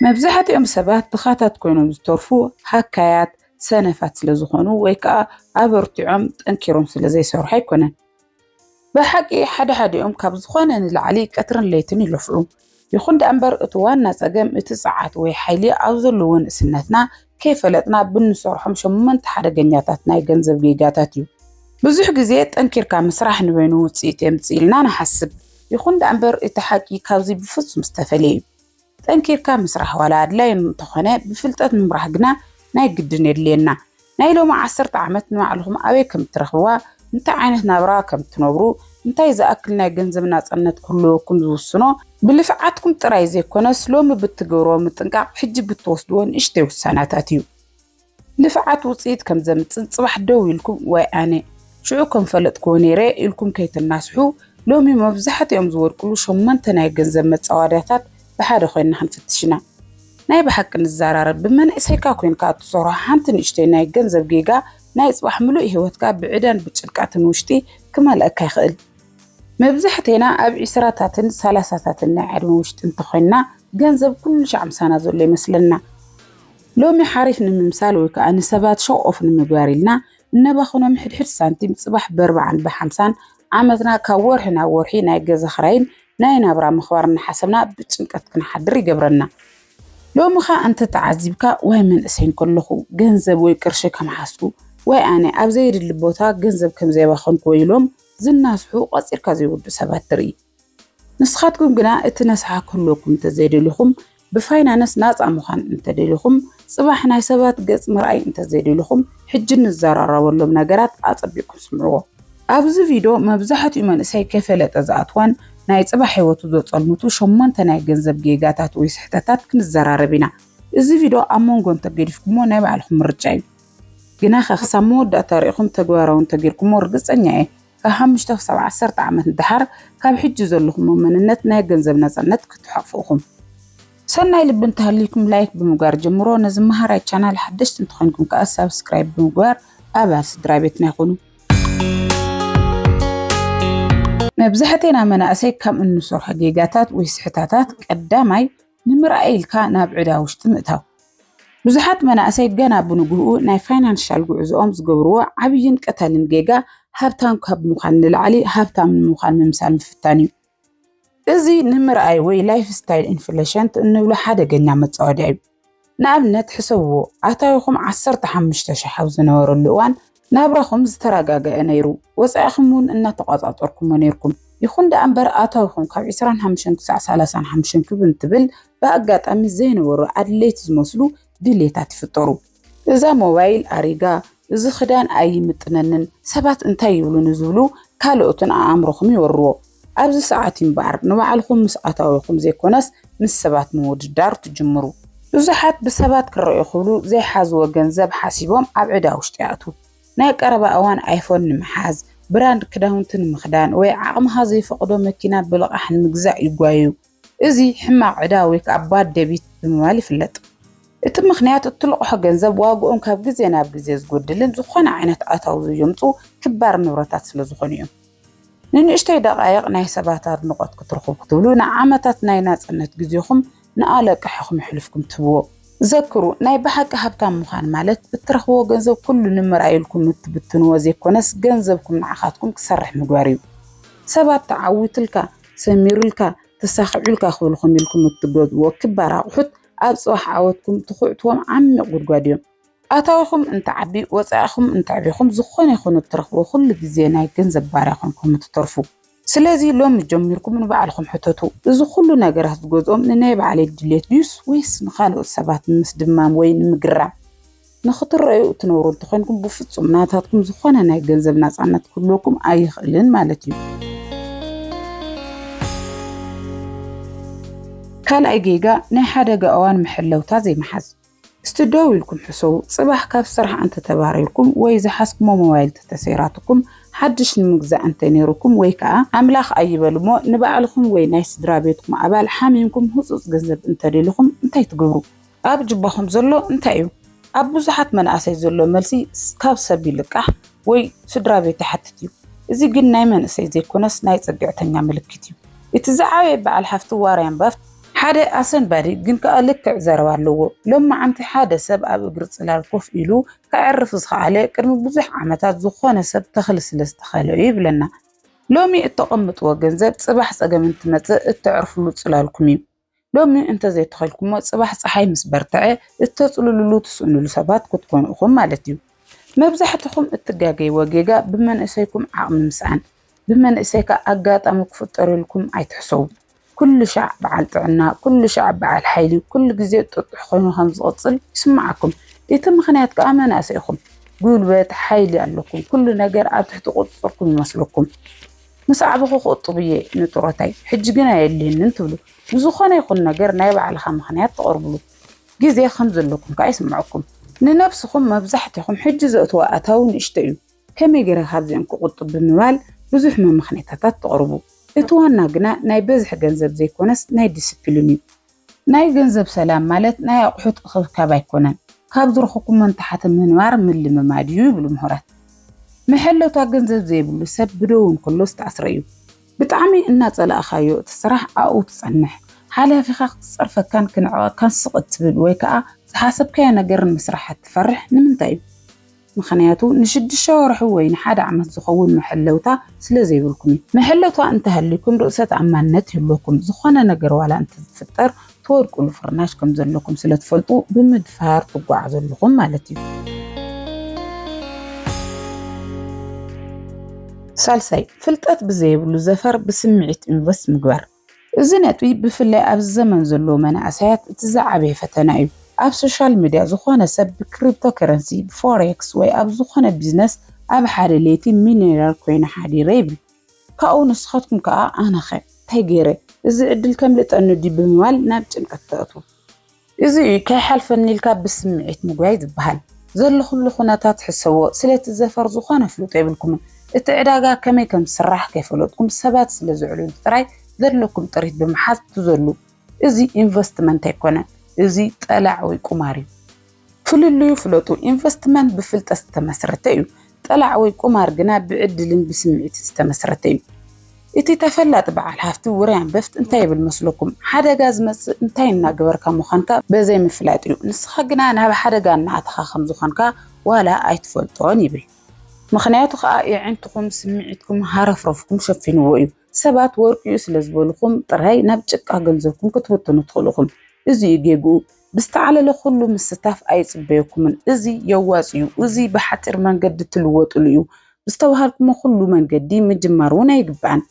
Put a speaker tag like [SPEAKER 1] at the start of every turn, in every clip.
[SPEAKER 1] መብዛሕትኦም ሰባት ድኻታት ኮይኖም ዝተርፉ ሃካያት፣ ሰነፋት ስለ ዝኾኑ ወይ ከኣ ኣበርቲዖም ጠንኪሮም ስለ ዘይሰርሑ ኣይኮነን። ብሓቂ ሓደ ሓዲኦም ካብ ዝኾነ ንላዕሊ ቀትርን ለይትን ይለፍዑ። ይኹን ደኣ እምበር እቲ ዋና ጸገም እቲ ጸዓት ወይ ሓይሊ ኣብ ዘለዎ ንእስነትና ከይፈለጥና ብንሰርሖም ሸሞንተ ሓደገኛታት ናይ ገንዘብ ጌጋታት እዩ። ብዙሕ ግዜ ጠንኪርካ ምስራሕ ንበይኑ ውጽኢት የምጽእልና ንሓስብ። ይኹን ደኣ እምበር እቲ ሓቂ ካብዚ ብፍጹም ዝተፈልየ እዩ። ጠንኪርካ ምስራሕ ዋላ ኣድላዪ እንተኾነ ብፍልጠት ምምራሕ ግና ናይ ግድን የድልየና። ናይ ሎሚ ዓሰርተ ዓመት ንባዕልኹም ኣበይ ከም እትረኽብዋ፣ እንታይ ዓይነት ናብራ ከም እትነብሩ፣ እንታይ ዝኣክል ናይ ገንዘብ ናጽነት ክህልወኩም ዝውስኖ፣ ብልፍዓትኩም ጥራይ ዘይኮነስ ሎሚ ብእትገብርዎ ምጥንቃቕ ሕጂ ብትወስድዎ ንእሽተይ ውሳነታት እዩ። ልፍዓት ውፅኢት ከም ዘምፅእ ፅባሕ ደው ኢልኩም ዋይ ኣነ ሽዑ ከም ፈለጥክዎ ነይረ ኢልኩም ከይትናስሑ፣ ሎሚ መብዛሕትኦም ዝወድቅሉ ሸሞንተ ናይ ገንዘብ መፃዋድያታት ብሓደ ኮይንና ክንፍትሽ ኢና። ናይ ብሓቂ ንዘራረብ፣ ብመንእሰይካ ኮይንካ እትሰርሖ ሓንቲ ንእሽተይ ናይ ገንዘብ ጌጋ ናይ ፅባሕ ምሉእ ህይወትካ ብዕዳን ብጭንቀትን ውሽጢ ክመልኣካ ይኽእል። መብዛሕቴና ኣብ ዒስራታትን ሰላሳታትን ናይ ዕድመ ውሽጢ እንተኾይንና ገንዘብ ኩሉሻዕ ምሳና ዘሎ ይመስለና። ሎሚ ሓሪፍ ንምምሳል ወይ ከዓ ንሰባት ሸው ኦፍ ንምግባር ኢልና እነባኽኖም ሕድሕድ ሳንቲም ፅባሕ በርባዕን ብሓምሳን ዓመትና ካብ ወርሒ ናብ ወርሒ ናይ ገዛ ኽራይን ናይ ናብራ ምኽባር እናሓሰብና ብጭንቀት ክንሓድር ይገብረና። ሎሚ ኸ እንተተዓዚብካ ዋይ መንእሰይ እንከለኹ ገንዘብ ወይ ቅርሺ ከም ሓሱ ዋይ ኣነ ኣብ ዘየድሊ ቦታ ገንዘብ ከም ዘየባኸንኩ ወይ ኢሎም ዝናስሑ ቐፂርካ ዘይውዱእ ሰባት ትርኢ። ንስኻትኩም ግና እቲ ነስሓ ክህልወኩም እንተዘይደሊኹም፣ ብፋይናንስ ናጻ ምዃን እንተደሊኹም፣ ጽባሕ ናይ ሰባት ገጽ ምርኣይ እንተዘይደሊኹም፣ ሕጂ ንዘራረበሎም ነገራት ኣጸቢቕኩም ስምዕዎ። ኣብዚ ቪድዮ መብዛሕትኡ መንእሰይ ከይፈለጠ ዝኣትዎን ናይ ጽባሕ ህይወቱ ዘጸልምቱ ሸሞንተ ናይ ገንዘብ ጌጋታት ወይ ስሕተታት ክንዘራረብ ኢና። እዚ ቪድዮ ኣብ መንጎ እንተገዲፍኩሞ ናይ ባዕልኹም ምርጫ እዩ። ግናኸ ክሳብ መወዳእታ ርኢኹም ተግባራዊ እንተጌርኩሞ ርግጸኛ እየ ካብ ሓሙሽተ ክሳብ ዓሰርተ ዓመት ንደሓር ካብ ሕጂ ዘለኹሞ መንነት ናይ ገንዘብ ናጻነት ክትሓቁፉ ኢኹም። ሰናይ ልቢ እንተሃልዩኩም ላይክ ብምግባር ጀምርዎ፣ ነዚ መሃራይ ቻናል ሓደሽቲ እንተኾይንኩም ከኣ ሳብስክራይብ ብምግባር ኣባል ስድራቤትና ኩኑ። መብዛሕቴና መናእሰይ ካብ እንሰርሖ ጌጋታት ወይ ስሕታታት ቀዳማይ ንምርኣይ ኢልካ ናብ ዕዳ ውሽጢ ምእታው። ብዙሓት መናእሰይ ገና ብንግህኡ ናይ ፋይናንሻል ጉዕዞኦም ዝገብርዎ ዓብይን ቀታልን ጌጋ ሃብታም ካብ ምዃን ንላዕሊ ሃብታም ንምዃን ምምሳል ምፍታን እዩ። እዚ ንምርኣይ ወይ ላይፍ ስታይል ኢንፍሌሽንት እንብሎ ሓደገኛ መፃወድያ እዩ። ንኣብነት ሕሰብዎ፣ ኣታዊኹም ዓሰርተ ሓሙሽተ ሽሕ ኣብ ዝነበረሉ እዋን ናብራኹም ዝተረጋገዐ ነይሩ፣ ወፃኢኹም እውን እናተቋፃፀርኩሞ ነይርኩም። ይኹን ደኣ እምበር ኣታዊኹም ካብ ዕስራን ሓሙሽተን ክሳዕ ሰላሳን ሓሙሽተን ክብ እንትብል ብኣጋጣሚ ዘይነበሩ ኣድለይቲ ዝመስሉ ድልየታት ይፍጠሩ። እዛ ሞባይል ኣሪጋ፣ እዚ ክዳን ኣይምጥነንን፣ ሰባት እንታይ ይብሉኒ ዝብሉ ካልኦትን ኣኣምሮኹም ይወርዎ። ኣብዚ ሰዓት'ዩ እምበኣር ንባዕልኹም ምስ ኣታዊኹም ዘይኮነስ ምስ ሰባት ምውድዳር ትጅምሩ። ብዙሓት ብሰባት ክረኣዩ ክብሉ ዘይሓዝዎ ገንዘብ ሓሲቦም ኣብ ዕዳ ውሽጢ ይኣትዉ። ናይ ቀረባ እዋን ኣይፎን ንምሓዝ፣ ብራንድ ክዳውንቲ ንምኽዳን ወይ ዓቕምኻ ዘይፈቕዶ መኪና ብልቓሕ ንምግዛእ ይጓየዩ። እዚ ሕማቕ ዕዳ ወይ ከኣ ባድ ደቢት ብምባል ይፍለጥ። እቲ ምኽንያት እትልቕሖ ገንዘብ ዋግኦም ካብ ግዜ ናብ ግዜ ዝጎድልን ዝኾነ ዓይነት ኣታዊ ዘየምጽኡ ክባር ንብረታት ስለ ዝኾኑ እዮም። ንንእሽተይ ደቓይቕ ናይ ሰባት ኣድንቖት ክትረኽቡ ክትብሉ ንዓመታት ናይ ናጽነት ግዜኹም ንኣለቅሕኹም የሕልፍኩም ትህብዎ። ዘክሩ ናይ ብሓቂ ሃብታም ምዃን ማለት እትረኽብዎ ገንዘብ ኩሉ ንምርኣይ ኢልኩም እትብትንዎ ዘይኮነስ ገንዘብኩም ንዓኻትኩም ክሰርሕ ምግባር እዩ። ሰባት ተዓዊትልካ ሰሚሩልካ፣ ተሳኺዑልካ ክብልኹም ኢልኩም እትገዝእዎ ክባር ኣቑሑት ኣብ ፅባሕ ዓወትኩም ትኹዕትዎም ዓሚቕ ጉድጓድ እዮም። ኣታዊኹም እንትዓቢ፣ ወፃኢኹም እንተዕቢኹም ዝኾነ ይኹን እትረኽብዎ ኩሉ ግዜ ናይ ገንዘብ ባርያ ኮይንኩም እትተርፉ። ስለዚ ሎሚ ጀሚርኩም ንባዕልኹም ሕተቱ፣ እዚ ኩሉ ነገራት ዝገዝኦም ንናይ ባዕለይ ድሌት ድዩስ ወይስ ንኻልኦት ሰባት ንምስድማም ወይ ንምግራም? ንክትረኣዩ እትነብሩ እንተኾይንኩም ብፍጹም ናታትኩም ዝኾነ ናይ ገንዘብ ናጻነት ክህልወኩም ኣይኽእልን ማለት እዩ። ካልኣይ ጌጋ ናይ ሓደጋ እዋን መሐለውታ ዘይምሓዝ። እስቲ ደው ኢልኩም ሕሰቡ፣ ጽባሕ ካብ ስራሕ እንተተባሪርኩም ወይ ዝሓዝኩሞ ሞባይል እንተተሰይራትኩም፣ ሓድሽ ንምግዛእ እንተነይሩኩም ወይ ከኣ ኣምላኽ ኣይበል እሞ ንባዕልኹም ወይ ናይ ስድራ ቤትኩም ኣባል ሓሚምኩም ህጹጽ ገንዘብ እንተደሊኹም እንታይ ትገብሩ? ኣብ ጁባኹም ዘሎ እንታይ እዩ? ኣብ ብዙሓት መናእሰይ ዘሎ መልሲ ካብ ሰብ ይልቃሕ ወይ ስድራቤት ይሓትት እዩ። እዚ ግን ናይ መንእሰይ ዘይኮነስ ናይ ጽግዕተኛ ምልክት እዩ። እቲ ዝዓበየ በዓል ሃፍቲ ዋርያን ባፍት፣ ሓደ ኣሰንባዲ ግን ከኣ ልክዕ ዘረባ ኣለዎ ሎምዓንቲ ሓደ ሰብ ኣብ እግሪ ጽላል ኮፍ ኢሉ ከዕርፍ ዝኸኣለ ቅድሚ ብዙሕ ዓመታት ዝኾነ ሰብ ተኽሊ ስለ ዝተኸለ እዩ ይብለና። ሎሚ እተቐምጥዎ ገንዘብ ጽባሕ ጸገም እንትመጽእ እተዕርፍሉ ጽላልኩም እዩ። ሎሚ እንተዘይተኸልኩሞ ጽባሕ ጸሓይ ምስ በርትዐ እተጽልሉሉ ትስእኑሉ ሰባት ክትኮኑ ኢኹም ማለት እዩ። መብዛሕትኹም እትጋገይዎ ጌጋ ብመንእሰይኩም ዓቕሚ ምስኣን፣ ብመንእሰይካ ኣጋጣሚ ክፍጠረልኩም ኣይትሕሰቡ። ኩሉ ሻዕ በዓል ጥዕና፣ ኩሉ ሻዕ በዓል ሓይሊ፣ ኩሉ ግዜ ጥጡሕ ኮይኑ ከም ዝቕጽል ይስምዓኩም። እቲ ምኽንያት ከኣ መናእሰይ ኢኹም። ጉልበት፣ ሓይሊ ኣለኩም። ኩሉ ነገር ኣብ ትሕቲ ቁጽጽርኩም ይመስለኩም። ምስ ዓበኹ ክቑጥብ እየ ንጡረታይ፣ ሕጂ ግን ኣየድልየንን ትብሉ። ንዝኾነ ይኹን ነገር ናይ ባዕልኻ ምኽንያት ተቕርብሉ ግዜ ከም ዘለኩም ከኣ ይስምዓኩም። ንነብስኹም መብዛሕትኹም ሕጂ ዘእትዎ ኣታዊ ንእሽቶ እዩ፣ ከመይ ገይረ ካብዚኦም ክቑጥብ ብምባል ብዙሕ መመኽነይታታት ተቕርቡ። እቲ ዋና ግና ናይ በዝሒ ገንዘብ ዘይኮነስ ናይ ዲሲፕሊን እዩ። ናይ ገንዘብ ሰላም ማለት ናይ ኣቑሑት እኽብካብ ኣይኮነን፣ ካብ ዝረኹኩሞ ንታሕቲ ምንባር ምልምማድ እዩ ይብሉ ምሁራት። መሐለውታ ገንዘብ ዘይብሉ ሰብ ብደዉ እንከሎ ዝተኣስረ እዩ። ብጣዕሚ እናፀላእኻዮ እቲ ስራሕ ኣብኡ ትፀንሕ። ሓላፊኻ ክትፀርፈካን ክንዕቐካን ስቕ እትብል ወይ ከዓ ዝሓሰብካዮ ነገር ንምስራሕ እትፈርሕ ንምንታይ እዩ? ምኽንያቱ ንሽዱሽተ ወርሒ ወይ ንሓደ ዓመት ዝኸውን መሐለውታ ስለ ዘይብልኩም እዩ። መሐለውታ እንተሃልዩኩም ርእሰ ተኣማንነት ይህልወኩም፣ ዝኾነ ነገር ዋላ እንተዝፍጠር ትወድቁሉ ፍርናሽ ከም ዘለኩም ስለ ትፈልጡ ብምድፋር ትጓዓዙ ኣለኹም ማለት እዩ። ሳልሳይ፣ ፍልጠት ብዘየብሉ ዘፈር ብስምዒት ኢንቨስት ምግባር። እዚ ነጥቢ ብፍላይ ኣብዚ ዘመን ዘለዉ መናእሰያት እቲ ዝዓበየ ፈተና እዩ። ኣብ ሶሻል ሚድያ ዝኾነ ሰብ ብክሪፕቶ ከረንሲ፣ ብፎሬክስ ወይ ኣብ ዝኾነ ቢዝነስ ኣብ ሓደ ለይቲ ሚልዮነር ኮይነ ሓዲረ ይብል። ካብኡ ንስኻትኩም ከኣ ኣነኸ? እንታይ ገይረ? እዚ ዕድል ከምልጠኒ ድዩ ብምባል ናብ ጭንቀት ተእትዉ። እዚ እዩ ከይሓልፈኒ ኢልካ ብስምዒት ምጉያይ ዝበሃል። ዘለኹሉ ኩነታት ሕሰብዎ፣ ስለቲ ዘፈር ዝኾነ ኣፍልጦ የብልኩምን። እቲ ዕዳጋ ከመይ ከም ዝስራሕ ከይፈለጥኩም ሰባት ስለ ዘዕልሉ ጥራይ ዘለኩም ጥሪት ብምሓዝ ትዘሉ። እዚ ኢንቨስትመንት ኣይኮነን። እዚ ጠላዕ ወይ ቁማር እዩ። ፍልልዩ ፍለጡ። ኢንቨስትመንት ብፍልጠት ዝተመስረተ እዩ። ጠላዕ ወይ ቁማር ግና ብዕድልን ብስምዒትን ዝተመስረተ እዩ። እቲ ተፈላጢ በዓል ሃፍቲ ውራይ ኣንበፍት እንታይ ይብል መስለኩም? ሓደጋ ዝመጽእ እንታይ እናገበርካ ምዃንካ በዘይምፍላጥ እዩ። ንስኻ ግና ናብ ሓደጋ እናኣተኻ ከም ዝኾንካ ዋላ ኣይትፈልጦን ይብል። ምኽንያቱ ከኣ የዒንትኹም ስምዒትኩም ሃረፍረፍኩም ሸፊንዎ እዩ። ሰባት ወርቂኡ ስለ ዝበልኹም ጥራይ ናብ ጭቃ ገንዘብኩም ክትብትኑ ትኽእሉ ኢኹም። እዚ እዩ ጌግኡ። ብዝተዓለለ ኩሉ ምስታፍ ኣይጽበየኩምን። እዚ የዋጽ እዩ፣ እዚ ብሓጺር መንገዲ እትልወጥሉ እዩ፣ ብዝተባሃልኩሞ ኩሉ መንገዲ ምጅማር እውን ኣይግባእን።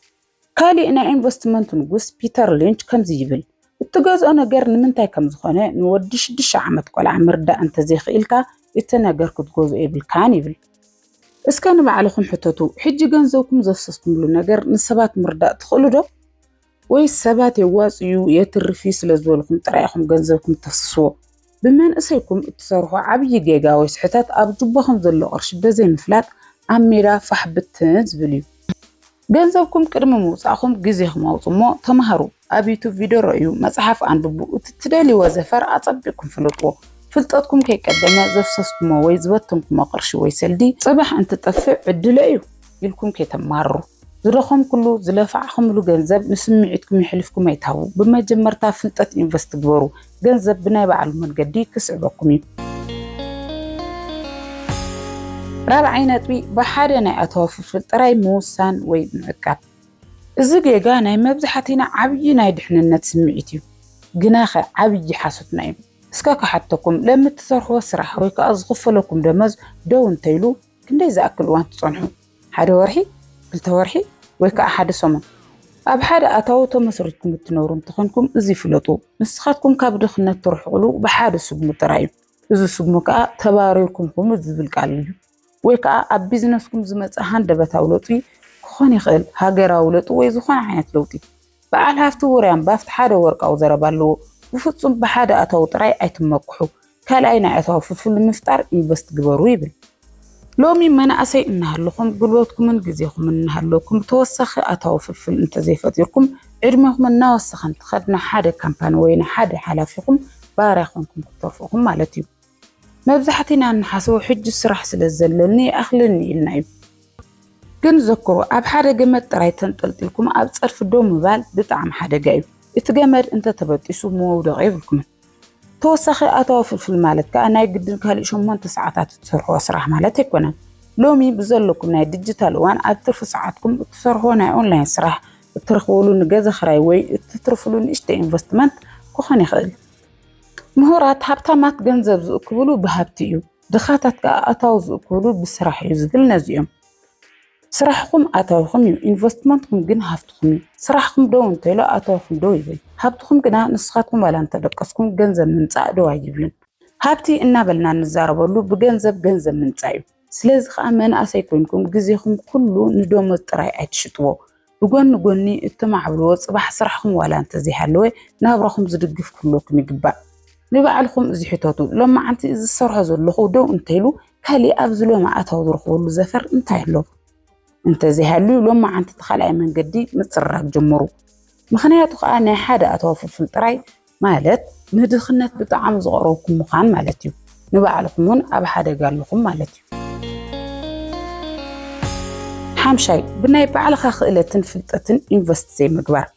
[SPEAKER 1] ካሊእ ናይ ኢንቨስትመንት ንጉስ ፒተር ሊንች ከምዚ ይብል፣ እትገዝኦ ነገር ንምንታይ ከም ዝኾነ ንወዲ ሽዱሽተ ዓመት ቆልዓ ምርዳእ እንተዘይኽኢልካ እቲ ነገር ክትገዝኦ የብልካን ይብል። እስከ ንባዕልኹም ሕተቱ፣ ሕጂ ገንዘብኩም ዘፍሰስኩምሉ ነገር ንሰባት ምርዳእ ትኽእሉ ዶ? ወይስ ሰባት የዋጽእ'ዩ፣ የትርፍ'ዩ ስለዝበልኩም ጥራይ ኢኹም ገንዘብኩም እተፍስስዎ? ብመንእሰይኩም እትሰርሖ ዓብዪ ጌጋ ወይ ስሕተት ኣብ ጁባኹም ዘሎ ቅርሺ በዘይምፍላጥ ኣብ ሜዳ ፋሕ ብትን ዝብል'ዩ። ገንዘብኩም ቅድሚ ምውጻእኩም ግዜኩም ኣውጹ እሞ ተማሃሩ ኣብ ዩቱብ ቪድዮ ረእዩ መጽሓፍ ኣንብቡ እቲ ትደልይዎ ዘፈር ኣጸቢቕኩም ፍለጥዎ ፍልጠትኩም ከይቀደመ ዘፍሰስኩሞ ወይ ዝበተንኩሞ ቅርሺ ወይ ሰልዲ ጽባሕ እንትጠፍእ ዕድለይ እዩ ኢልኩም ከይተማርሩ ዝደኸምኩሉ ዝለፋዕክምሉ ገንዘብ ንስምዒትኩም የሕሊፍኩም ኣይትሃቡ ብመጀመርታ ፍልጠት ኢንቨስት ግበሩ ገንዘብ ብናይ ባዕሉ መንገዲ ክስዕበኩም እዩ። ራብዓይ ነጥቢ፣ ብሓደ ናይ ኣታዊ ፍልፍል ጥራይ ምውሳን ወይ ምዕቃብ። እዚ ጌጋ ናይ መብዛሕቲና ዓብዪ ናይ ድሕንነት ስምዒት እዩ። ግናኸ ዓብዪ ሓሶትና እዩ። እስከ ክሓተኩም፣ ለሚ እትሰርሕዎ ስራሕ ወይ ከኣ ዝኽፈለኩም ደመዝ ደው እንተኢሉ፣ ክንደይ ዝኣክል እዋን ትጸንሑ? ሓደ ወርሒ፣ ክልተ ወርሒ ወይ ከኣ ሓደ ሰሙን? ኣብ ሓደ ኣታዊ ተመስሪትኩም እትነብሩ እንተኾንኩም እዚ ፍለጡ፣ ንስኻትኩም ካብ ድኽነት ትርሕቕሉ ብሓደ ስጉሚ ጥራይ እዩ። እዚ ስጉሚ ከኣ ተባሪርኩም ኩኑ ዝብል ቃል እዩ። ወይ ከኣ ኣብ ቢዝነስኩም ዝመጽእ ሃንደበታዊ ለውጢ ክኾን ይኽእል፣ ሃገራዊ ለውጢ ወይ ዝኾነ ዓይነት ለውጢ። በዓል ሃፍቲ ውርያም ባፍቲ ሓደ ወርቃዊ ዘረባ ኣለዎ፣ ብፍጹም ብሓደ ኣታዊ ጥራይ ኣይትመኩሑ፣ ካልኣይ ናይ ኣታዊ ፍልፍል ንምፍጣር ኢንቨስት ግበሩ ይብል። ሎሚ መናእሰይ እናሃለኹም ጉልበትኩምን ግዜኹምን እናሃለወኩም ብተወሳኺ ኣታዊ ፍልፍል እንተዘይፈጢርኩም ዕድሜኹም እናወሰኸ እንትኸድ ንሓደ ካምፓኒ ወይ ንሓደ ሓላፊኹም ባርያ ኮንኩም ክትተርፉ ኢኹም ማለት እዩ። መብዛሕቲና እንሓስቦ ሕጂ ስራሕ ስለ ዘለኒ ይኣኽለኒ ኢልና እዩ። ግን ዘክሩ ኣብ ሓደ ገመድ ጥራይ ተንጠልጢልኩም ኣብ ጸድፊ ደው ምባል ብጣዕሚ ሓደጋ እዩ። እቲ ገመድ እንተ ተበጢሱ መውደቒ የብልኩምን። ተወሳኺ ኣታዊ ፍልፍል ማለት ከኣ ናይ ግድን ካልእ ሸሞንተ ሰዓታት እትሰርሕዎ ስራሕ ማለት ኣይኮነን። ሎሚ ብዘለኩም ናይ ድጅታል እዋን ኣብ ትርፊ ሰዓትኩም እትሰርሕዎ ናይ ኦንላይን ስራሕ፣ እትረኽብሉ ንገዛ ክራይ ወይ እትትርፍሉ ንእሽተይ ኢንቨስትመንት ክኾን ይኽእል። ምሁራት ሃብታማት ገንዘብ ዝእክብሉ ብሃብቲ እዩ፣ ድኻታት ከዓ ኣታዊ ዝእክብሉ ብስራሕ እዩ ዝብል ነዚኦም። ስራሕኹም ኣታዊኹም እዩ፣ ኢንቨስትመንትኩም ግን ሃፍትኹም እዩ። ስራሕኹም ደው እንተኢሉ ኣታዊኹም ደው ይብል፣ ሃብትኹም ግና ንስኻትኩም ዋላ እንተደቀስኩም ገንዘብ ምምፃእ ደው ኣይብልን። ሃብቲ እናበልና እንዛረበሉ ብገንዘብ ገንዘብ ምምፃእ እዩ። ስለዚ ከኣ መናእሰይ ኮይንኩም ግዜኹም ኩሉ ንደሞዝ ጥራይ ኣይትሽጥዎ። ብጎኒ ጎኒ እተማዕብልዎ ጽባሕ ስራሕኹም ዋላ እንተዘይሃለወ ናብራኹም ዝድግፍ ክህልወኩም ይግባእ። ንባዕልኹም እዚ ሕተቱ፣ ሎማዓንቲ እዚ ዝሰርሖ ዘለኹ ደው እንተኢሉ ካሊእ ኣብዚ ሎሚ ኣታዊ ዝረኽበሉ ዘፈር እንታይ ኣሎ? እንተዘይሃልዩ ሎማዓንቲ እቲ ካልኣይ መንገዲ ምጽርራግ ጀምሩ። ምኽንያቱ ከኣ ናይ ሓደ ኣታዊ ፍልፍል ጥራይ ማለት ንድኽነት ብጣዕሚ ዝቐረብኩም ምዃን ማለት እዩ። ንባዕልኹም እውን ኣብ ሓደጋ ኣለኹም ማለት እዩ። ሓምሻይ፣ ብናይ ባዕልኻ ክእለትን ፍልጠትን ኢንቨስት ዘይምግባር።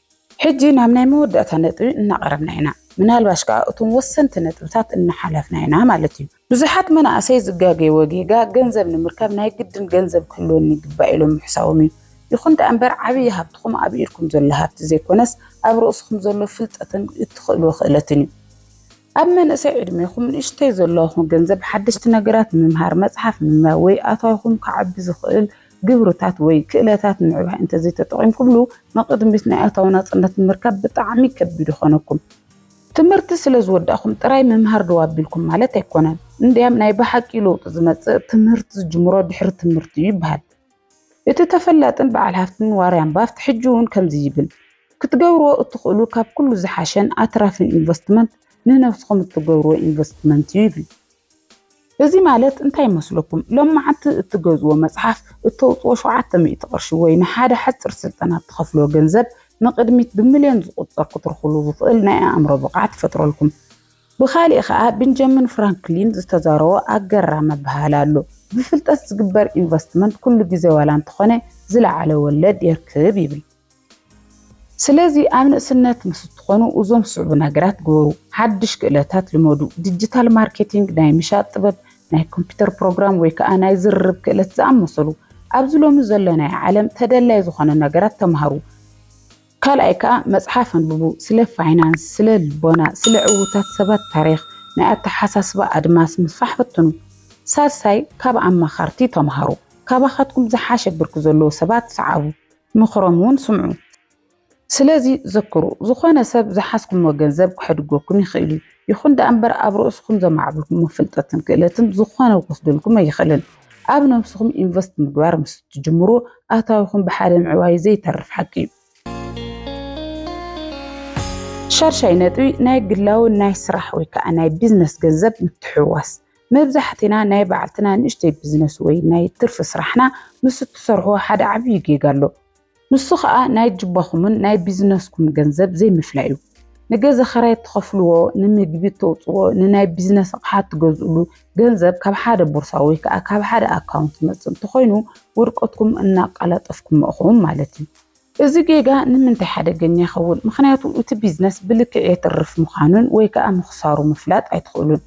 [SPEAKER 1] ሕጂ ናብ ናይ መወዳእታ ነጥቢ እናቐረብና ኢና፣ ምናልባሽ ከኣ እቶም ወሰንቲ ነጥብታት እናሓለፍና ኢና ማለት እዩ። ብዙሓት መናእሰይ ዝጋገይዎ ጌጋ ገንዘብ ንምርካብ ናይ ግድን ገንዘብ ክህልወኒ ይግባእ ኢሎም ምሕሳቦም እዩ። ይኹን ደኣ እምበር ዓብዪ ሃብትኹም ኣብ ኢድኩም ዘሎ ሃብቲ ዘይኮነስ ኣብ ርእስኹም ዘሎ ፍልጠትን እትኽእልዎ ክእለትን እዩ። ኣብ መንእሰይ ዕድሜኹም ንእሽተይ ዘለኹም ገንዘብ ሓደሽቲ ነገራት ምምሃር፣ መፅሓፍ ምንባብ ወይ ኣታዊኹም ከዓቢ ዝኽእል ግብርታት ወይ ክእለታት ምዕባይ እንተዘይተጠቒምኩምሉ ንቕድሚት ናይ ኣታዊ ናፅነት ንምርካብ ብጣዕሚ ከቢድ ይኾነኩም። ትምህርቲ ስለ ዝወዳእኩም ጥራይ ምምሃር ደው ኣቢልኩም ማለት ኣይኮነን። እንድያም ናይ ብሓቂ ለውጢ ዝመጽእ ትምህርቲ ዝጅምሮ ድሕሪ ትምህርቲ እዩ ይበሃል። እቲ ተፈላጥን በዓል ሃፍትን ዋርያን ባፍት ሕጂ እውን ከምዚ ይብል፣ ክትገብርዎ እትኽእሉ ካብ ኩሉ ዝሓሸን ኣትራፍን ኢንቨስትመንት ንነብስኹም እትገብርዎ ኢንቨስትመንት እዩ ይብል። እዚ ማለት እንታይ ይመስለኩም? ሎምዓንቲ እትገዝዎ መጽሓፍ እተውጽዎ ሸውዓተ ሚእቲ ቅርሺ ወይ ንሓደ ሓጽር ስልጠና እትኸፍልዎ ገንዘብ ንቕድሚት ብምልዮን ዝቑጸር ክትርኽሉ ዝኽእል ናይ ኣእምሮ ብቕዓት ይፈጥረልኩም። ብኻሊእ ከኣ ብንጀምን ፍራንክሊን ዝተዛረቦ ኣገራሚ ኣበሃህላ ኣሎ፣ ብፍልጠት ዝግበር ኢንቨስትመንት ኩሉ ግዜ ዋላ እንተኾነ ዝለዓለ ወለድ የርክብ ይብል። ስለዚ ኣብ ንእስነት ምስ እትኾኑ እዞም ዝስዕቡ ነገራት ግበሩ። ሓድሽ ክእለታት ልመዱ። ዲጂታል ማርኬቲንግ፣ ናይ ምሻጥ ጥበብ፣ ናይ ኮምፒተር ፕሮግራም ወይ ከዓ ናይ ዝርርብ ክእለት ዝኣመሰሉ ኣብዚ ሎሚ ዘለናዮ ዓለም ተደላይ ዝኾነ ነገራት ተምሃሩ። ካልኣይ ከዓ መፅሓፍ ኣንብቡ። ስለ ፋይናንስ፣ ስለ ልቦና፣ ስለ ዕውታት ሰባት ታሪኽ፣ ናይ ኣተሓሳስባ ኣድማስ ምስፋሕ ፈትኑ። ሳልሳይ ካብ ኣማኸርቲ ተምሃሩ። ካባኻትኩም ዝሓሸ ብርኪ ዘለዎ ሰባት ስዓቡ። ምኽሮም እውን ስምዑ። ስለዚ ዘክሩ፣ ዝኾነ ሰብ ዝሓዝኩምዎ ገንዘብ ክሐድጎኩም ይኽእል እዩ። ይኹን ደኣ እምበር ኣብ ርእስኹም ዘማዕብልኩምዎ ፍልጠትን ክእለትን ዝኾነ ክወስደልኩም ኣይኽእልን። ኣብ ነብስኹም ኢንቨስት ምግባር ምስ እትጅምሩ ኣታዊኹም ብሓደ ምዕባዩ ዘይተርፍ ሓቂ እዩ። ሻድሻይ ነጥቢ ናይ ግላዊ ናይ ስራሕ ወይ ከኣ ናይ ቢዝነስ ገንዘብ ምትሕውዋስ። መብዛሕቲና ናይ ባዕልትና ንእሽተይ ብዝነስ ወይ ናይ ትርፊ ስራሕና ምስ እትሰርሑ ሓደ ዓብዪ ጌጋ ኣሎ። ንሱ ከኣ ናይ ጅባኹምን ናይ ቢዝነስኩም ገንዘብ ዘይምፍላይ እዩ። ንገዛ ኽራይ እትኸፍልዎ፣ ንምግቢ እተውጽእዎ፣ ንናይ ቢዝነስ ኣቕሓ እትገዝእሉ ገንዘብ ካብ ሓደ ቦርሳ ወይ ከኣ ካብ ሓደ ኣካውንት ዝመጽእ እንተኾይኑ ውድቀትኩም እናኣቃላጠፍኩሞ እኹም ማለት እዩ። እዚ ጌጋ ንምንታይ ሓደገኛ ይኸውን? ምኽንያቱ እቲ ቢዝነስ ብልክዕ የትርፍ ምዃኑን ወይ ከኣ ምኽሳሩ ምፍላጥ ኣይትኽእሉን።